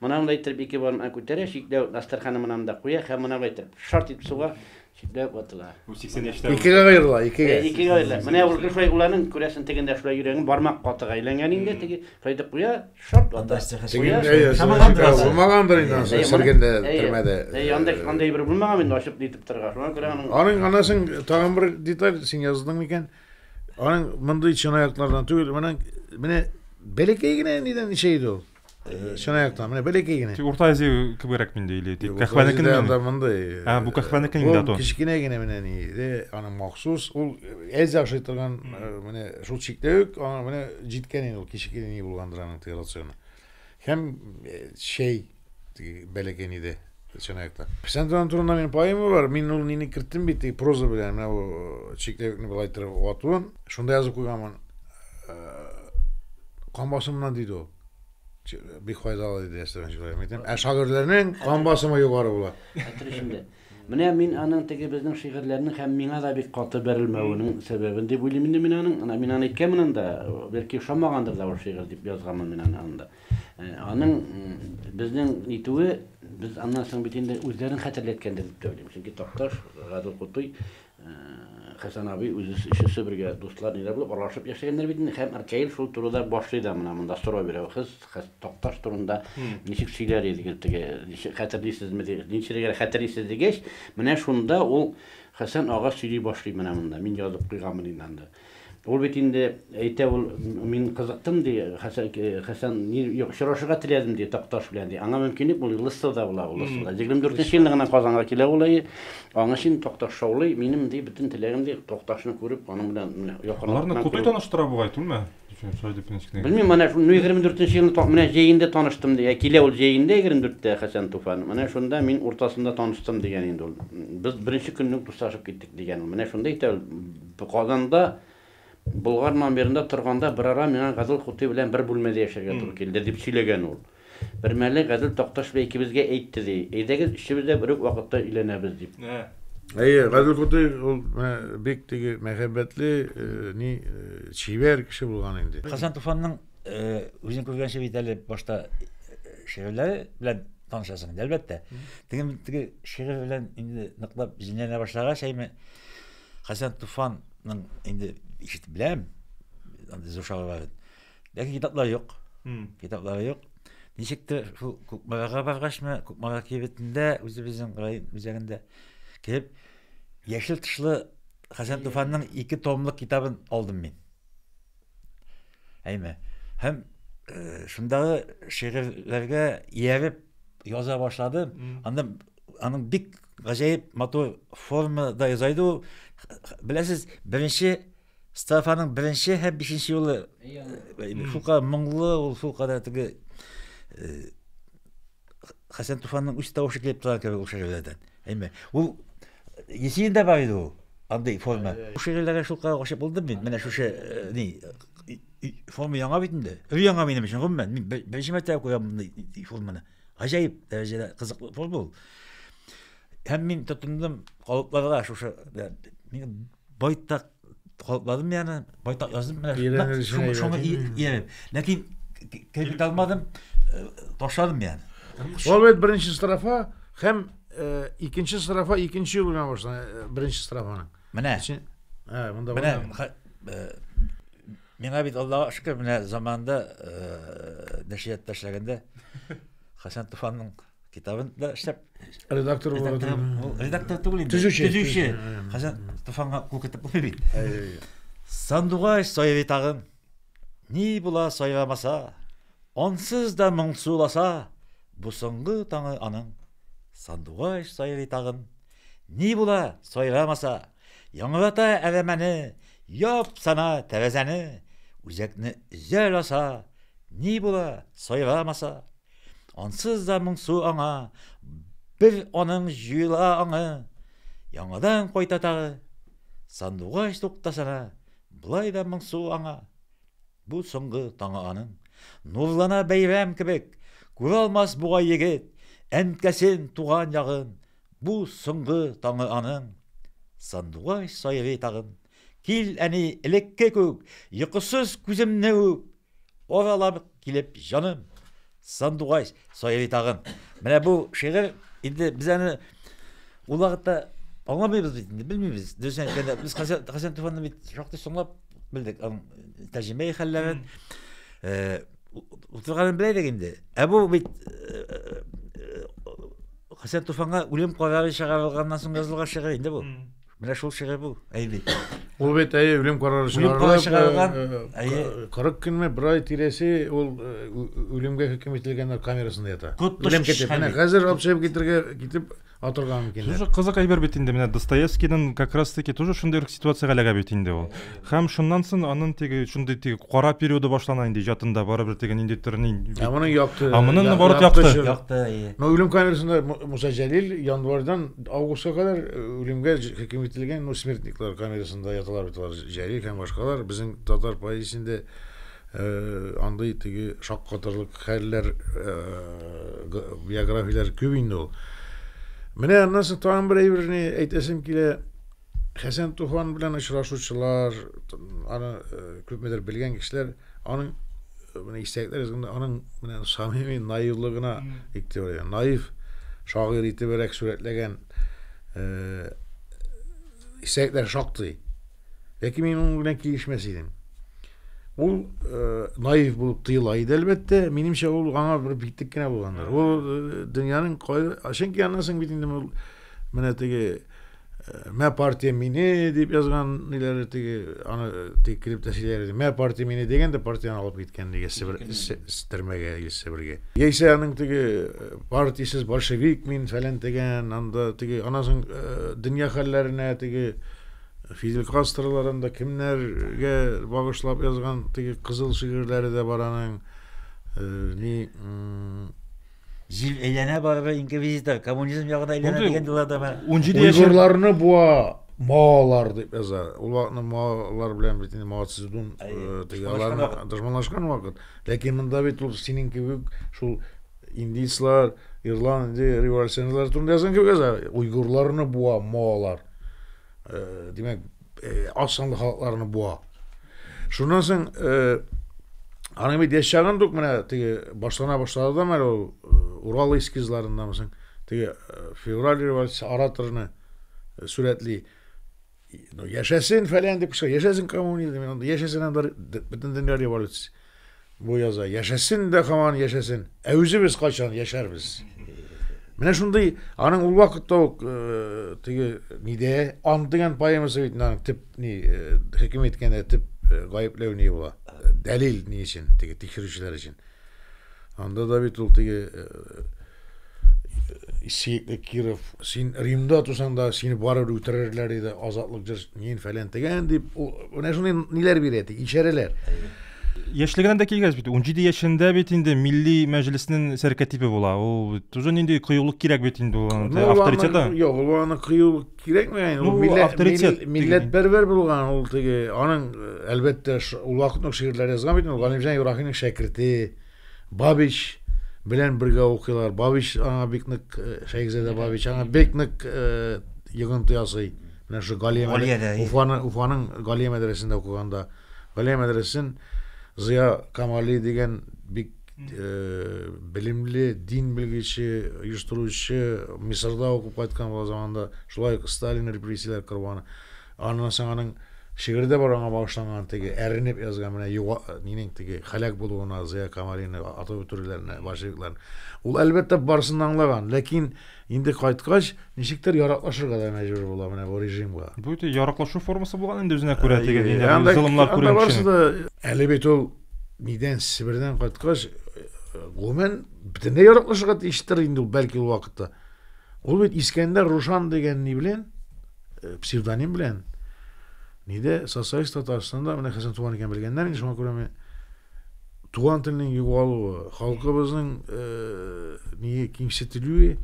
Моны анда иттереп ике бармагын күтәрә, читләвек дастарханы монанда куя һәм моны итеп шарт итеп суга. Читләп ватыла. Бу 80 яшьтә ул. Икегә
аерыла, икегә. Э,
икегә аерыла. Менә ул
шулай уланың күрәсен тегендә шулай йөрәген бармак катыга әйләнгән инде, теге шулай итеп куя, шарт вата. Анда сәхәт Куя, Теге, әйе, Шамаган шулай торасы. булмагандыр
инде анысы, Әйе, моны- сөргендә, әйе, төрмәдә. Әйе, анда анда бер булмаган
инде ачып нитеп торырга. Шуңа күрә аның Аның анасын
тагын бер деталь син яздың микән? Аның мондый чынаяклардан түгел, моның менә бәләкәй генә нидән эчә иде ул. Э, чынаяктан менә бәләкәй генә тик урта азия кебегрәк
инде или тик кәхвәнекен анда мондый а бу кәхвәнекен инде ул кечкенә генә менә ни
иде аның махсус ул әзә ашый торган менә шул чиктә үк аңа менә җиткән инде ул кечкенә ни булгандыр аның теге рационы һәм чәй теге бәләкәй нидә Чынайта. Писантран турында мин поэма бар. Мин ул нини керттем бит, и проза белән менә бу э, чикләвекне былай иттереп вату. Шунда язып куйганмын. Э, кан басымыннан диде ул. Бик файдалы диде Әстерхан Чулаев. Әйтәм, ә шагыйрьләрнең кан басымы югары була. Хәтер эчендә.
Менә мин аның теге безнең шигырьләрнең һәм миңа да бик каты бәрелмәвенең сәбәбен дип уйлыйм инде мин аның. Ана мин аны әйткәнмен анда, бәлки ошамагандыр да ул шигырь дип язганмын мин аны анда. Аның безнең итүе, без аннан соң бит инде үзләрен хәтерләткәндер дип тә уйлыйм. Чөнки Такташ, Гадел Кутуй, Хәсән абый үзе өчесе бергә дуслар ниләр булып аралашып яшәгәннәр бит инде. Һәм Ркаил шул турыда башлый да менә монда сорау бирә. Сез Такташ турында ничек сөйләр идегез теге, хәтерлисезме дип. Ничегрәк хәтерлисез дигәч, менә шунда ул Хәсән ага сөйли башлый менә монда. Мин язып куйганмын инде анда. Ул бит инде әйтә ул, мин кызыктым, ди, Хәсән, Хәсән, ни, юк, очрашырга теләдем, ди, Такташ белән, ди. Аңа мөмкинлек булмый, Лыстовда була ул, Лыстовда. Егерме дүртенче елны гына Казанга килә ул, әйе. Аңа чын Такташ шаулый, минем, ди, бөтен теләгем, ди, Такташны күреп, аның белән менә якынлыктан күрү. Аларны Кутуй таныштыра
бугай, түгелме?
Белмим, менә шул егерме дүртенче елны менә җәендә таныштым, ди. Ә килә ул җәендә, егерме дүрттә, Хәсән Туфан. Менә шунда мин уртасында таныштым, дигән инде ул. Без беренче көнне үк дуслашып киттек, дигән ул. Менә шунда әйтә ул. Казанда Болгар номерында торганда берара миңа Газел Хутый белән бер бүлмәдә яшәргә туры килде, дип сөйләгән ул. Бермәле Газел Такташ бәй икебезгә әйтте, ди, әйдәгез, өчебез дә бер үк вакытта өйләнәбез, дип. Әйе, Газел
Хутый ул менә бик теге мәхәббәтле, ни, чибәр кеше булган инде. Хәсән Туфанның,
үзең күргәнчә бит әле башта шигырьләре белән танышасың инде, әлбәттә. Теге шигырь белән инде ныклап җенләнә башлагач, әйме, Хәсән Туфанның инде ишетеп беләм, андый зур шагыйрь. Ләкин китаплары юк. Китаплары юк. Ничек тә шул Күкмарага баргачмы, Күкмара кибетендә, үзебезнең район үзәгендә кеп яшел тышлы Хәсән Туфанның ике томлык китабын алдым мин. Әйме. Һәм э, шундагы шигырьләргә ияреп яза башладым. Анда аның бик гаҗәеп матур формада яза иде ул беләсез беренче стафаның беренче һәм бишенче юлы шулкадәр моңлы ул шулкадәр теге хәсән туфанның үз тавышы килеп тора кебек ул шигырьләрдән әйме ул есенинда бар иде ул андый форма шигырьләргә шулкадәр гашыйк булдым мин менә шушы ни форма яңа бит инде өр яңа минем өчен гомумән мин беренче мәртәбә күрәм мондый форманы Гаҗәеп дәрәҗәдә кызыклы форум бул. Һәм мин тотындым калыпларга шушы мин байтак калыпладым яны, байтак яздым менә шуны шуны ияреп. Ләкин кирпек алмадым, э, ташладым яны. Ул бит беренче
строфа һәм э, икенче строфа икенче юл белән башлана, э, беренче строфаның. Менә. Ә,
монда.
Менә
Миңа бит Аллага шөкер, менә заманында э, нәшрият ташләгәндә Хәсән Туфанның китабын да эшләп редактор булып
редактор түгел инде.
Төзүче. Төзүче.
Хәсән
Туфанга кул китеп булмый бит. Сандугач саевы тагын. Ни була саевамаса, ансыз да моңсуласа, бу соңгы таңы аның. Сандугач саевы тагын. Ни була саевамаса, Яңгырата әрәмәне, Яп сана тәрәзәне, Үзәкне өзә ласа, Ни була, сайрамаса. Ансыз да моңсу аңа, Бер аның җуела аңы, Яңадан кайта тагы, Сандугач туктасана, Болай да моңсу аңа. Бу соңгы таңы аның. Нурлана бәйрәм кебек, Күралмас бугай егет, Әнкәсен, туган ягын, Бу соңгы таңы аның. Сандугач сайрый тагын. Кил, әни, элекке күк, Йокысыз күземне үп. Аралап килеп җаным. Сандугач сайрый тагын. Менә бу шигырь инде без аны ул вакытта аңламыйбыз бит инде, белмибез. Дөресен әйткәндә, без Хәсән, Хәсән Туфанны бит шактый соңлап белдек, аның тәрҗемә хәлләрен. Э, утырганын белә идек инде. Ә бу бит э, э, Хәсән Туфанга үлем карары чыгарылганнан соң язылган шигырь инде бу. Менә шул шигырь бу, әйби. Ул бит әйе
үлем карары чыгарылган. 40 көнме, бер ай тирәсе ул үлемгә хөкем ителгәннәр камерасында ята. Үлем китеп, менә хәзер алып чыгып китергә китеп атырган микәннәр. Тоже кызык әйбер бит инде,
менә Достоевскийның как раз таки тоже шундый ситуациягә эләгә бит инде ул. Хәм шуннан сон анын теге шундый теге кара периоды башлана инде иҗатында барыбер теге ниндидер ни. Ә моның якты. А
моның я- наоборот якты якты.
чоры. Якты, әйе. Ну, үлем
камерасында
Му- Муса Җәлил январьдан августка кадәр э, үлемгә ж- хөкем ителгән, ну, смертниклар камерасында яталар бит алар, Ж- Җәлил һәм башкалар. Безнең татар поэзиясендә э, андый теге шаккатырлык хәлләр, э, г- биографияләр күп инде ул. Менә аннан соң тагын бер әйберне әйтәсем килә. Хәсән Туфан белән очрашучылар, аны күпмедер белгән кешеләр аның менә истәлекләр язганда аның менә самими наивлыгына игътибар итә. Наив шагыйрь итебрәк сурәтләгән истәлекләр шактый. Ләкин мин моның белән килешмәс идем. Ул наив булып тыела иде, әлбәттә. Минемчә, ул аңа бер битлек кенә булгандыр. Ул дөньяның кай... Чөнки аннан соң бит инде менә теге Мә партия мине дип язган ниләре теге аны тик килеп тә сөйләр иде. Мә партия мине дигән дә партияне алып киткән диге Себер Стермәгә или Себергә. Яисә аның теге э, партиясез большевик мин фәлән дигән, анда теге аннан соң э, дөнья хәлләренә теге Фидель Кастрларын да кемнәргә багышлап язган теге кызыл шигырьләре дә бар аның. Э, ни
Җил әйләнә барыбер инквизитор, коммунизм ягына әйләнә дигән диләрдә бар. Уйгырларны буа
маолар дип яза. Ул вакытны маолар белән бит инде Мао Цзэдун аларны дошманлашкан вакыт. Ләкин монда бит ул синең кебек шул индийцлар, ирландия революционерлары турында язган кебек яза. Уйгырларны буа маолар. Димәк, э, аз санлы халыкларны буа. Шуннан соң э, аның бит яшәгән дук менә теге башлана башлады да мәле ул э, Урал эскизларында мисең теге э, февраль революция ораторны э, сурәтли. Ну, яшәсен фәлән дип кыша, яшәсен коммунизм, яшәсен анда бөтен дөнья революциясе. Бу яза яшәсен дә һаман яшәсен. Ә үзебез кайчан яшәрбез? Менә шундый аның ул вакытта ук э, теге нидә ант дигән поэмасы бит аның төп ни э, хөкем иткәндә төп э, гаепләү ни була. Дәлил ни өчен теге тикшерүчеләр өчен. Анда да бит ул теге э, Исеекле Киров, син Римда тусаң да сине барыбер үтерерләр иде, азатлык җырчы, нин фәлән тегән дип, ул менә шундый ниләр бирә ди, ишарәләр. Яшьлегеннән
дә килгәч бит, 17 яшендә бит инде милли мәҗлеснең сәркәтибе була. Ул тоже нинди кыюлык кирәк бит инде ул ну, авторитеты. Юк, ул аны
кыюлык кирәкми, ул ну, милләт милләт бер-бер булган, ул теге аның әлбәттә ул вакытның шигырьләре язган бит, ул Галимҗан Юрахинның шәкерте. Бабич белән бергә укыйлар. Бабич аңа бик нык, э, Шәйхзадә Бабич аңа бик нык э, йогынты ясый. Менә шушы Галия Галиядә, мәдрә- әйе. Уфаны, Уфаның Галия мәдрәсәсендә укыганда. Галия мәдрәсәсен Зыя Камали дигән бик э, белемле, дин белгече, оештыручы, Мисырда укып кайткан була заманында, шулай ук Сталин репрессияләр корбаны. Аннан соң аның шигыре дә бар аңа багышланган, теге әрнеп язган менә юга, нинең теге һәлак булуына Зыя Камалины атып үтерүләренә большевикларны. Ул әлбәттә барысын да аңлаган, ләкин инде кайткач ничектер яраклашырга да мәҗбүр була менә бу режимга. Бу ди яраклашу
формасы булган инде үзенә күрә теге инде золымлар күргән кешенең. Әле бит ул
нидән Себердән кайткач гомумән бөтенләй яраклашырга тиештер инде ул бәлки ул вакытта. Ул бит Искәндәр Рушан дигән ни белән Псевдоним белән нидә социалист Татарстанда менә Хәсән Туган икән белгәннәр инде шуңа күрә мен туган телнең югалуы, халкыбызның э, ние кимсетелүе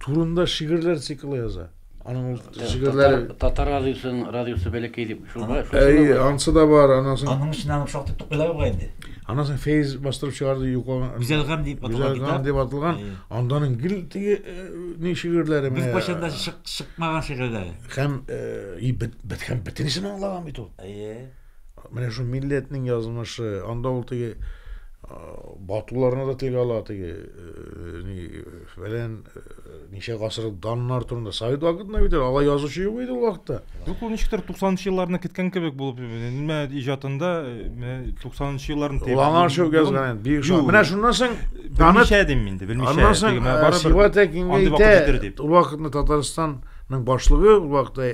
турында шигырьләр циклы яза. Аның ул шигырьләре Татар радиосын
радиосы бәләкәй дип Шуба, Әй, ансы да бар,
анасын. Аның өчен аның шактый
тукыйлар бар инде. Анасын Фейз
бастырып чыгарды юкаган. Гүзәл гам дип аталган. Гүзәл
гам дип аталган.
Анданың гел теге ни шигырьләре менә. Без кайчан да чык,
чыкмаган шигырьләре. Һәм
и бит бит һәм битенесен аңлаган бит ул. Әйе. Менә шу милләтнең язмышы, анда ул теге батуларны да телгә ала теге ни Фәлән э, ничә гасыр даннар турында. Совет вакытында бит алай язучы юк иде ул вакытта. Юк, ул ничектер
90-нчы елларны киткән кебек булып, нема иҗатында 90-нчы елларын тәйбәт. Лаңар шөк язган
бик шул. Менә шуннан соң белмичә дим инде,
белмичә. Аннан соң Сива Тәкингә
итә. Ул вакытны Татарстан Ның башлыгы ул вакытта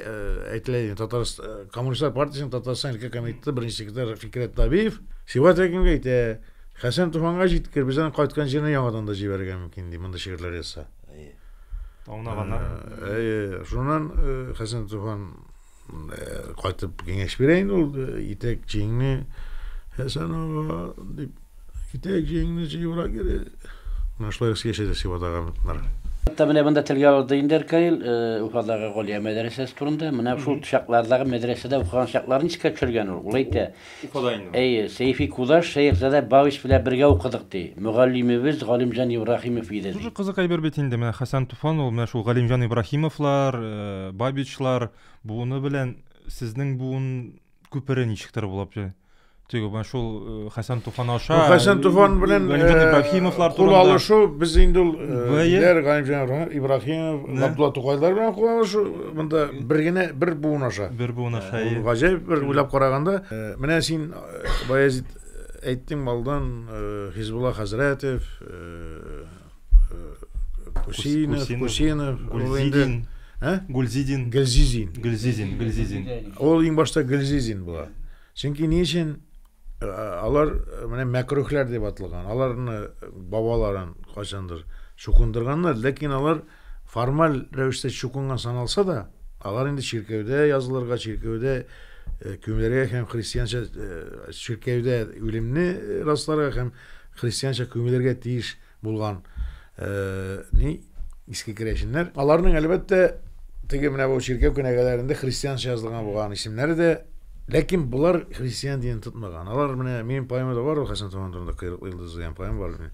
әйтелә иде Татарстан коммунистлар партиясенең Татарстан өлкә комитеты беренче секретарь Фикрәт Табиев Сива Тәкингә әйтә Хәсән Туфанга җиткер, без аны кайткан җиренә яңадан да җибәрергә мөмкин, ди, мондый шигырьләр язса. Әйе. Аңлаганнар.
Ә, әйе. Шуннан э,
Хәсән Туфан э, кайтып киңәш бирә инде ул э, итәк җиңне Хәсән ага дип итәк җиңне җыюра кире. Менә шулай яшәде Сибадагы мытнар. Хәтта менә
монда телгә алды инде Эркаил Уфадагы Галия мәдрәсәсе турында. Менә шул чаклардагы мәдрәсәдә укыган чакларын искә төшергән ул. Ул әйтә, Уфада инде. Әйе,
Сәйфи Кудаш
Шәехзадә Бавис белән бергә укыдык, ди мөгаллимебез Галимҗан Ибраһимов иде, ди. Тоже кызык әйбер бит инде,
менә Хәсән Туфан ул менә шул Галимҗан Ибраһимовлар, Бабичлар буыны белән сезнең буын күпере ничектер булып җә Теге менә шул Хәсән Туфан аша. Ну, Хәсән Туфан белән
Галимҗан Ибраһимовлар
турында. Кул алышу без
инде ул Галимҗан Ибраһимов, Габдулла Тукайлар белән кул алышу Монда бер генә бер буын аша. Бер буын аша. Ул
гаҗәп бер уйлап
караганда, менә син Баязит әйттең малдан Хизбулла хәзрәтев, Кусинов, Кусинов, Гульзидин, ә? Гульзидин.
Гөлзизин. Гөлзизин, Гөлзизин. Ул иң
башта Гөлзизин була. Чөнки ни өчен Алар менә мәкрүхләр дип аталган. Аларны бабаларын кайчандыр чукындырганнар, ләкин алар формаль рәвештә чукынган саналса да, алар инде чиркәүдә язылырга, чиркәүдә күмелергә һәм христианча чиркәүдә үлемне расларга һәм христианча күмелергә тиеш Булган ни иске керәшеннәр. Аларның әлбәттә теге менә бу чиркәү кенәгәләрендә христианча язылган булган исемнәре дә Ләкин болар христиан динен тотмаган. Алар менә минем поэмада бар ул Хәсән Туман турында Кыйрыклы йолдыз дигән поэма бар.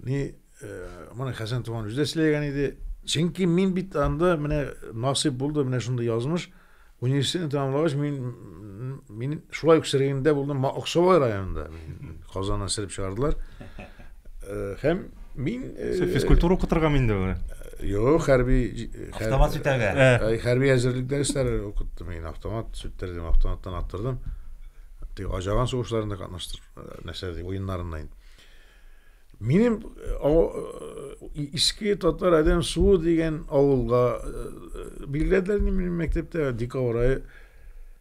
Ни моны Хәсән Туман үзе дә сөйләгән иде. Чөнки мин бит анда менә насыйп булды, менә шундый язмыш. Университетны тәмамлагач, мин, мин шулай ук Сергеендә булдым, Аксубай районында. Казаннан сырып чыгардылар. Һәм мин... Физкультура укытырга
мин дә Юк, хәрби...
Автомат
сүтәргә. Хәрби әзерлек
дәресләре укыттым мин. Автомат сүттердем, автоматтан аттырдым. Тик ажаган сугышларында катнаштыр, нәрсә ди, уеннарында инде. Минем иске татар адәм суы дигән авылга билгеләделәр ни минем мәктәптә декабрь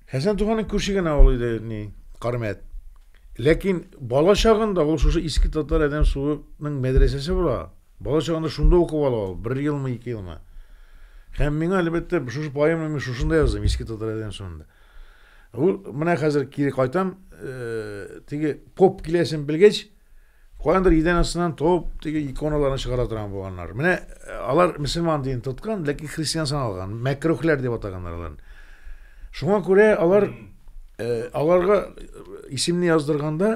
Хәсән туганың күрше генә авыл иде ни Кармәт. Ләкин бала чагында ул шушы иске татар адәм суының мәдрәсәсе була. Бала чагында шунда укып ала ул, бер елмы, ике елмы. Һәм миңа әлбәттә шушы поэманы мин шушында яздым, иске татар адәм суында. Ул менә хәзер кире кайтам, теге поп киләсен белгәч, Каяндыр идән астыннан топ теге иконаларны чыгара торган булганнар. Менә э, алар мөселман дин тоткан, ләкин христиан саналган, мәкрухләр дип атаганнар аларны. Шуңа күрә алар э, аларга исемне яздырганда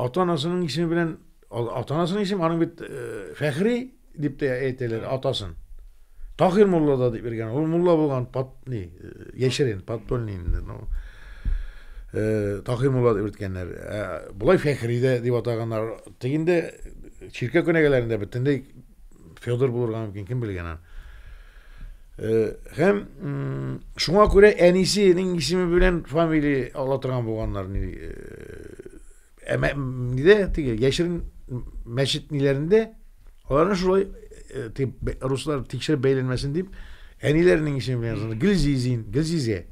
ата-анасының исеме белән ата-анасының исеме аның бит э, Фәхри дип тә әйтәләр атасын. Таһир мулла да дип биргән. Ул мулла булган пат ни, яшерен, подпольный инде. Ну, э, Таһир мулла дип бирткәннәр. Ә болай Фәхридә дип атаганнар. Тегендә чиркә көнәгәләрендә бөтенләй Федор булырга мөмкин, кем белгән аны. Э, һәм шуңа күрә әнисенең исеме белән фамилия ала торган булганнар ни э, Ә мә- м, нидә теге яшерен м, мәчет ниләрендә аларны шулай э, теге б- руслар тикшереп бәйләнмәсен дип әниләренең исеме белән язган. Гөлзизин, Гөлзизә.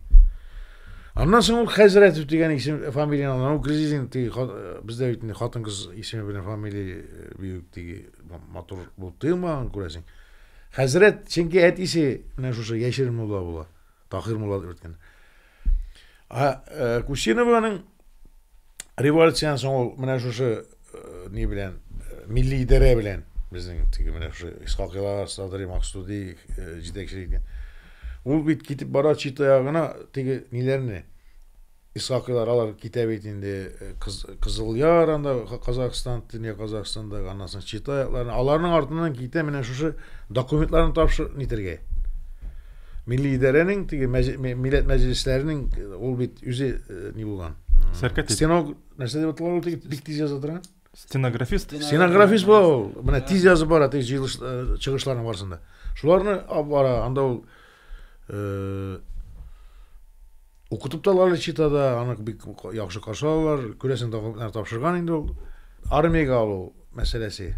Аннан соң ул Хәзрәтов дигән исем фамилияны алган. Ул Гөлзизин теге ха- э, бездә бит инде хатын-кыз исеме белән фамилия э, бигүк теге м- матур булып тыелмаган күрәсең. Хәзрәт, чөнки әтисе менә шушы яшерен мулла була. Таһир мулла дип әйткән. Ә э, Кусинованың революциянең соң ул менә шушы э, ни белән э, милли идарә белән безнең теге менә шушы Исхак Илар, Садри Максуди җитәкчелек иткән. Ул бит китеп бара чит аягына теге ниләрне Исхакыйлар алар китә бит инде Кызылъяр анда Казахстан, Төньяк Казахстандагы, аннан соң Чита якларына. Аларның артыннан китә менә шушы документларны тапшыр нитергә. Милли идарәнең теге милләт мәҗлесләренең ул бит үзе ни булган. Сәркәтип. Стеног нәрсә дип аталар ул теге бик тиз яза торган? стенографист
стенографист була
ул менә тиз язып бара теге җыелыш э, чыгышларның барысында шуларны алып бара анда ул э, укытып та алалар чита да аны бик яхшы каршы алалар күрәсең документлар тапшырган инде ул армиягә алу мәсьәләсе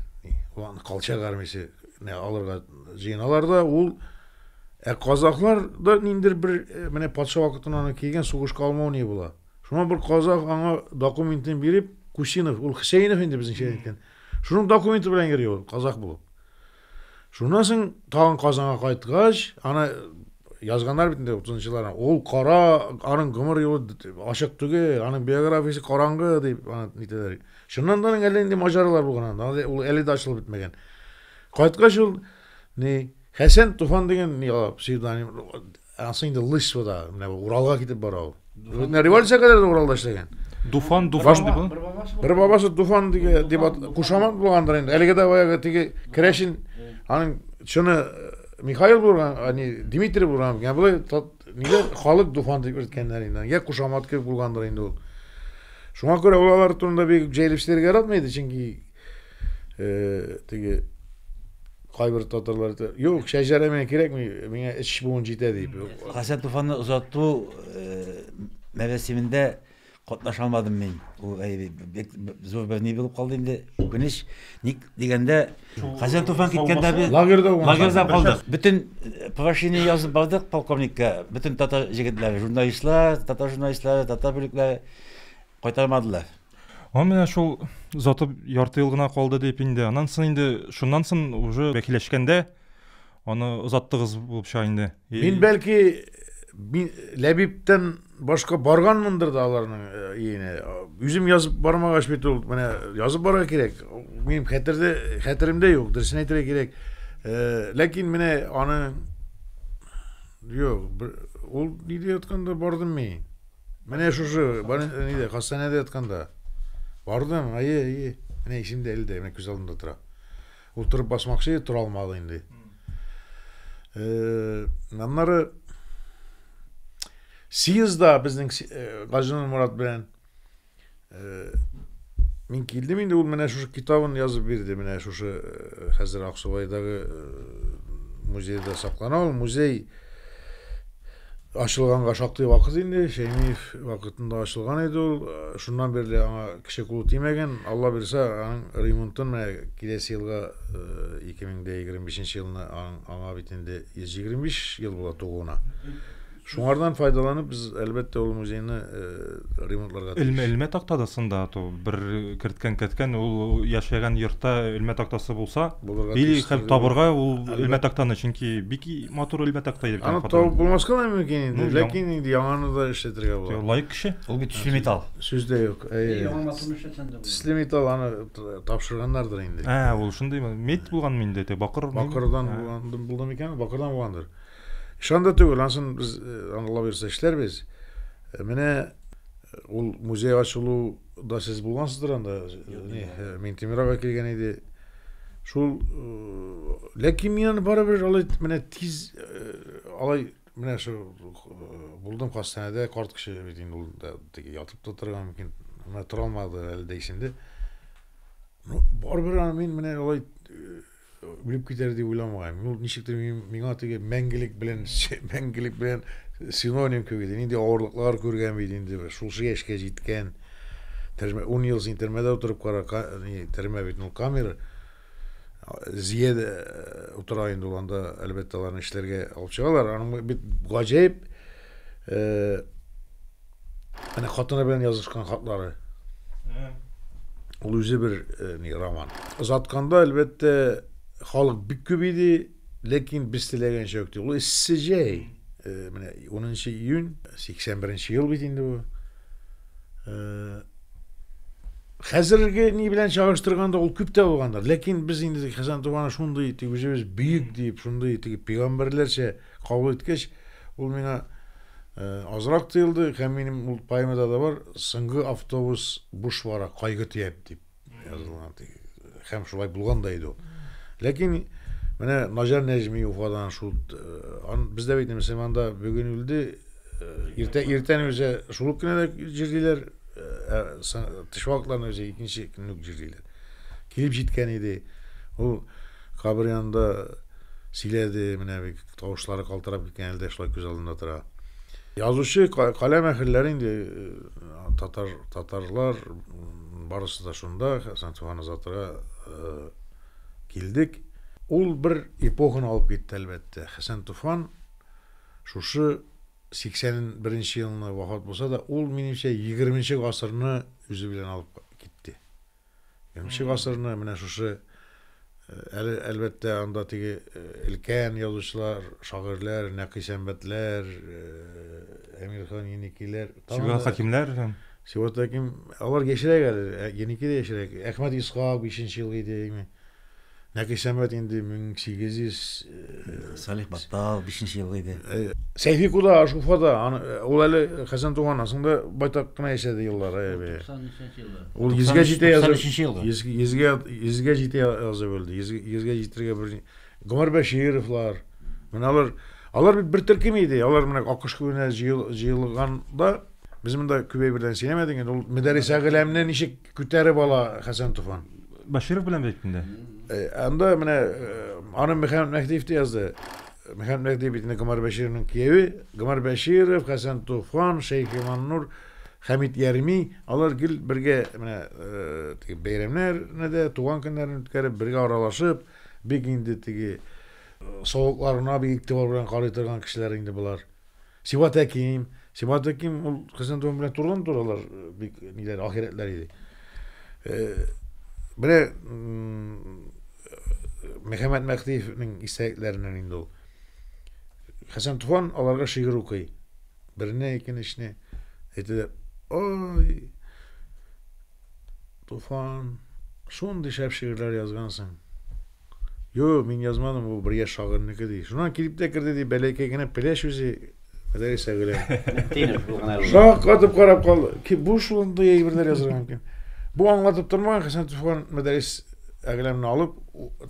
ул колчак армиясе алырга җыеналар да ул ә казаклар да ниндидер бер э, менә патша вакытында килгән сугышка алмау ни була Шуңа бер казах аңа документын биреп, Кусинов, ул Хсейнов инде безнеңчә әйткән. Шуның документы белән йөри ул, казах булып. Шуннан соң тагын Казанга кайткач, аны язганнар бит инде 30 елларда. Ул кара, аның гомер юлы ачык түгел, аның биографиясе караңгы дип аны нитәләр. Шуннан да әллә нинди маҗаралар булган анда. Ул әле дә ачылып бетмәгән. Кайткач ул ни Хәсән Туфан дигән ни псевдоним Ансы инде Лысьвада, менә Уралга китеп бара ул. Менә революция кадәр дә Уралда эшләгән. Дуфан, Дуфан
дип ул. Бер
бабасы Дуфан диге дип кушамат булгандыр инде. Әлеге дә баягы теге Крәшин аның чыны э, Михаил булган, ани Дмитрий булган. Я бу нигә халык Дуфан дип йөрткәннәр инде. Я кушамат кебек булгандыр инде ул. Шуңа күрә ул алар турында бик җәелеп сөйләргә яратмый иде, чөнки Э, теге кайбер татарлар әйтә, юк, шәҗәрә миңа кирәкми, миңа эч буын җитә дип. Хәсән Туфанны
озату э, мәрәсимендә катнаша алмадым мин. Ул әй, бик зур бер ни булып калды инде. Үкенеч. Ник дигәндә, Хәсән Туфан киткәндә без Лагерьда уңган. лагерьда калдык. Бөтен э, прошение язып бардык полковникка. Бөтен татар җегетләре, журналистлар, татар журналистлары, татар бүлекләре кайтармадылар. Һәм менә
шул озатып ярты ел гына калды дип инде. Аннан соң инде шуннан соң уже бәкиләшкәндә аны озаттыгыз булып чыга инде. Мин бәлки
мин Ләбибтән башка барганмындыр да аларның өенә. Э, Үзем язып бармагач бит ул менә язып барырга кирәк. Минем хәтердә хәтеремдә юк, дөресен әйтергә кирәк. Э, ләкин менә аны юк, ул нидә ятканда бардым мин. Менә шушы нидә, хастаханәдә ятканда. Бардым, әйе, әйе. Менә исемдә әле дә, менә күз алдында тора. Утырып басмакчы, тора алмады инде. Э, аннары съездда безнең э, Газинур Мурат белән Мин килдем инде, ул менә шушы китабын язып бирде. Менә шушы э, хәзер Аксубайдагы э, музейда саклана ул. Музей ачылганга шактый вакыт инде. Шәймиев вакытында ачылган иде ул. Э, шуннан бирле аңа кеше кулы тимәгән. Алла бирсә, аның ремонтын менә киләсе елга 2025 елына аңа бит инде 125 ел була тугуына. Шуңардан файдаланып, без, әлбәттә, ул музейны э, ремонтларга тиеш. Элмә, элмә такта
да сында, то бер керткән кәткән ул яшәгән йортта элмә тактасы булса, Булырга или тиеш һәм түгел. табырга ул Әлбәт. элмә тактаны, чөнки бик и- матур элмә такта иде. Аны табып булмаска да
мөмкин инде, Ну, яң- ләкин инде яңаны да эшләтергә була. Лаек кеше. Ул бит төсле
металл.
Сүз дә юк. Әйе. Әйе, яңа
матур эшләтсәң дә була. Төсле металл аны т- тапшырганнардыр инде. Ә, ул шундыймы? Мед
булганмы инде, те бакыр. Бакырдан булган
булды микән? Бакырдан булгандыр. Ишан да түгел, ансын без э, аңлап йөрсә эшләрбез. Э, менә э, ул музей да сез булгансыздыр анда. Не, Минтимир ага килгән иде. Шул ләкин мин аны барыбер алай менә тиз алай менә шул булдым хастаханәдә карт кеше бит инде ул да теге ятып та торган мөмкин менә тора алмады әле дә исемдә ну барыбер мин менә алай Үлеп китәр дип уйламаган. Ну, ничектер миңа теге мәңгелек белән мәңгелек белән синоним кебек иде. Нинди авырлыклар күргән бит инде бер. Шушы яшькә җиткән. Төрмә 10 ел син төрмәдә утырып кара, төрмә бит, ну камера. Зия дә э, утыра инде ул анда, әлбәттә, аларны эшләргә алып чыгалар. Аның бит гаҗәеп э, Әнә хатыны белән язышкан хатлары. Ул үзе бер э, ни роман. Озатканда, әлбәттә, халык бик күп иде, ләкин без теләгәнчә үк Ул эссе җәй. Э, менә 10 июнь, 81 ел бит инде бу. Э, хәзерге ни белән чагыштырганда ул күп тә булгандыр. Ләкин без инде Хәсән Тубаны шундый, үзебез бөек дип, шундый теге пигамбәрләрчә Кабул иткәч, ул миңа азрак тоелды һәм минем ул поэмада да бар, соңгы автобус буш бара, кайгы төяп дип язылган. Һәм шулай булган да иде ул. Ләкин менә Наҗар Нәҗми Уфадан шул бездә бит мөселманда бүген үлде, иртә иртән үзе шул кенә дә җирлиләр, тыш вакытларны үзе икенче көнне җирлиләр. Килеп җиткән иде. Ул кабер янында сөйләде, менә бик тавышлары калтырап киткән әле дә шулай күз алдында тора. Язучы каләм әһелләре инде э, татар татарлар барысы да шунда, Хәсән Туфан Азатрга э, килдек. Ул бер эпоханы алып китте, әлбәттә. Хәсән Туфан шушы 81 елны вафат булса да, ул, минемчә, 20 гасырны үзе белән алып китте. Нче гасырны менә шушы әле, әлбәттә, анда теге өлкән язучылар, шагыйрьләр, Нәкый Сәмбәтләр, Әмирхан Еникиләр, Сибгат Хәкимнәр,
Сибгат Хәким,
алар яшьрәк әле, Еники дә яшьрәк, Әхмәт Исхак, бишенче ел иде, Нәкисәмәт инде 1800 Салих Баттал
бишенче елгы иде. Сәйфи куда
аш Уфада, ул әле Хәсән туганнан соң да байтак кына яшәде еллар. 93 елы. Ул йөзгә җитә язып. 93 елгы. Йөзгә йөзгә җитә язып үлде. Йөзгә җитәргә бер Гомәр Бәшировлар. Менә алар алар бит бер төркем иде. Алар менә Акыш күленә җыелганда без монда күбәй белән сөйләмәдек инде. Ул Мөдәррис Агиләмне ничек Күтәреп ала Хәсән Туфан. Баширов белән бит
инде. Э, анда менә
э, аны Мөхәммәд Мәһдиев дә язды. Мөхәммәд Мәһдиев бит инде Гомар Бәшировның кияве. Гомар Бәширов, Хәсән Туфан, Шәйх Иманнур, Хәмит Ярми, алар гел бергә менә э, бәйрәмнәрне дә, туган көннәрен үткәреп, бергә аралашып, бик инде теге савыкларына бик игътибар белән карый торган кешеләр инде болар. Сибат Әким, Сибат Әким ул Хәсәндуган белән турыдан туралар э, бик ниләр ахирәтләр иде. Э, Менә м, Мөхәммәд Мәхтиевнең истәлекләреннән инде ул. Хәсән Туфан аларга шигырь укый. Берне, икенчене әйтәләр. Ой, Туфан, шундый шәп шигырьләр язгансың. Юк, мин язмадым, ул бер яшь шагыйрьнеке ди. Шуннан килеп тә керде ди, бәләкәй генә пеләш үзе Мәдәрис әгелә. Тинер бу гына. Шак атып карап калды. Ки бу шундый әйберләр язырга мөмкин. Бу аңлатып тормаган Хәсән Туфан Мәдәрис әгеләмне алып,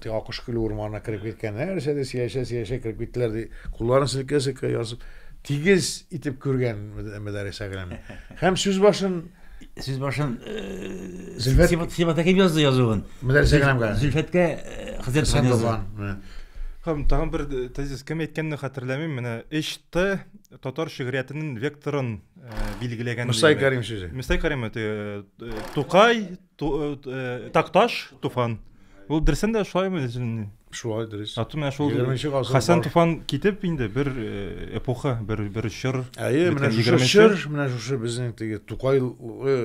Акыш көле урманына кереп киткән. Нәрсә дә сөйләшә, сөйләшә кереп киттеләр ди. Кулларын селкә-селкә язып, тигез итеп күргән Мәдәрис әгеләмне. Һәм сүз башын Сүз башын
Зөлфәт Сибат Әкип язды язуын. Менә Инстаграмга.
Зөлфәткә
Хәзрәт Туфан язды. Һәм тагын бер
тезис кем әйткәнне хәтерләмим, менә эште татар шигъриятенең векторын билгеләгән. Мөстай Карим сүзе.
Мөстай Карим
Тукай, Ту, э, э, Такташ Туфан. Ул дөресен дә шулаймы җинни?
Шулай дөрес. Ату менә шул
Хасан Туфан
китеп
инде бер э, эпоха, бер бер чор. Әйе, менә шушы
чор, менә шушы
безнең
теге Тукай э,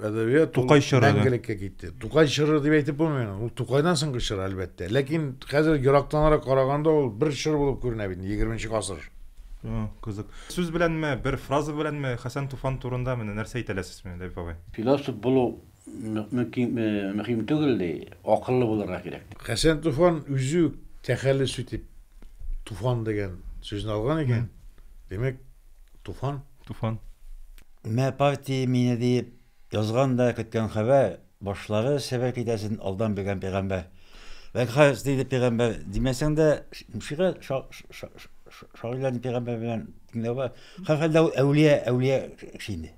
әдәбият Тукай чоры
мәңгелеккә китте. Тукай
чоры дип әйтеп булмый. Ул Тукайдан соңгы чор әлбәттә. Ләкин хәзер ерактанрак караганда ул бер чор булып күренә бит 20 гасыр. Кызык.
Сүз беләнме, бер фраза беләнме Хасан Туфан турында менә нәрсә әйтәләсез? Бисмилләһи бабай. Философ булу
мөһим түгел ди, акыллы булырга кирәк ди. Хәсән Туфан
үзе үк тәхәллүс итеп Туфан дигән сүзне алган икән, димәк, Туфан. Туфан.
Мә
партия мине диеп язган да көткән хәбәр, башлары себер китәсен алдан белгән пигамбәр. Вәкхәс диде пигамбәр, димәсәң дә, шигырь шагыйрьләрне пигамбәр белән тиңләү бар. Һәрхәлдә ул әүлия, әүлия кеше инде.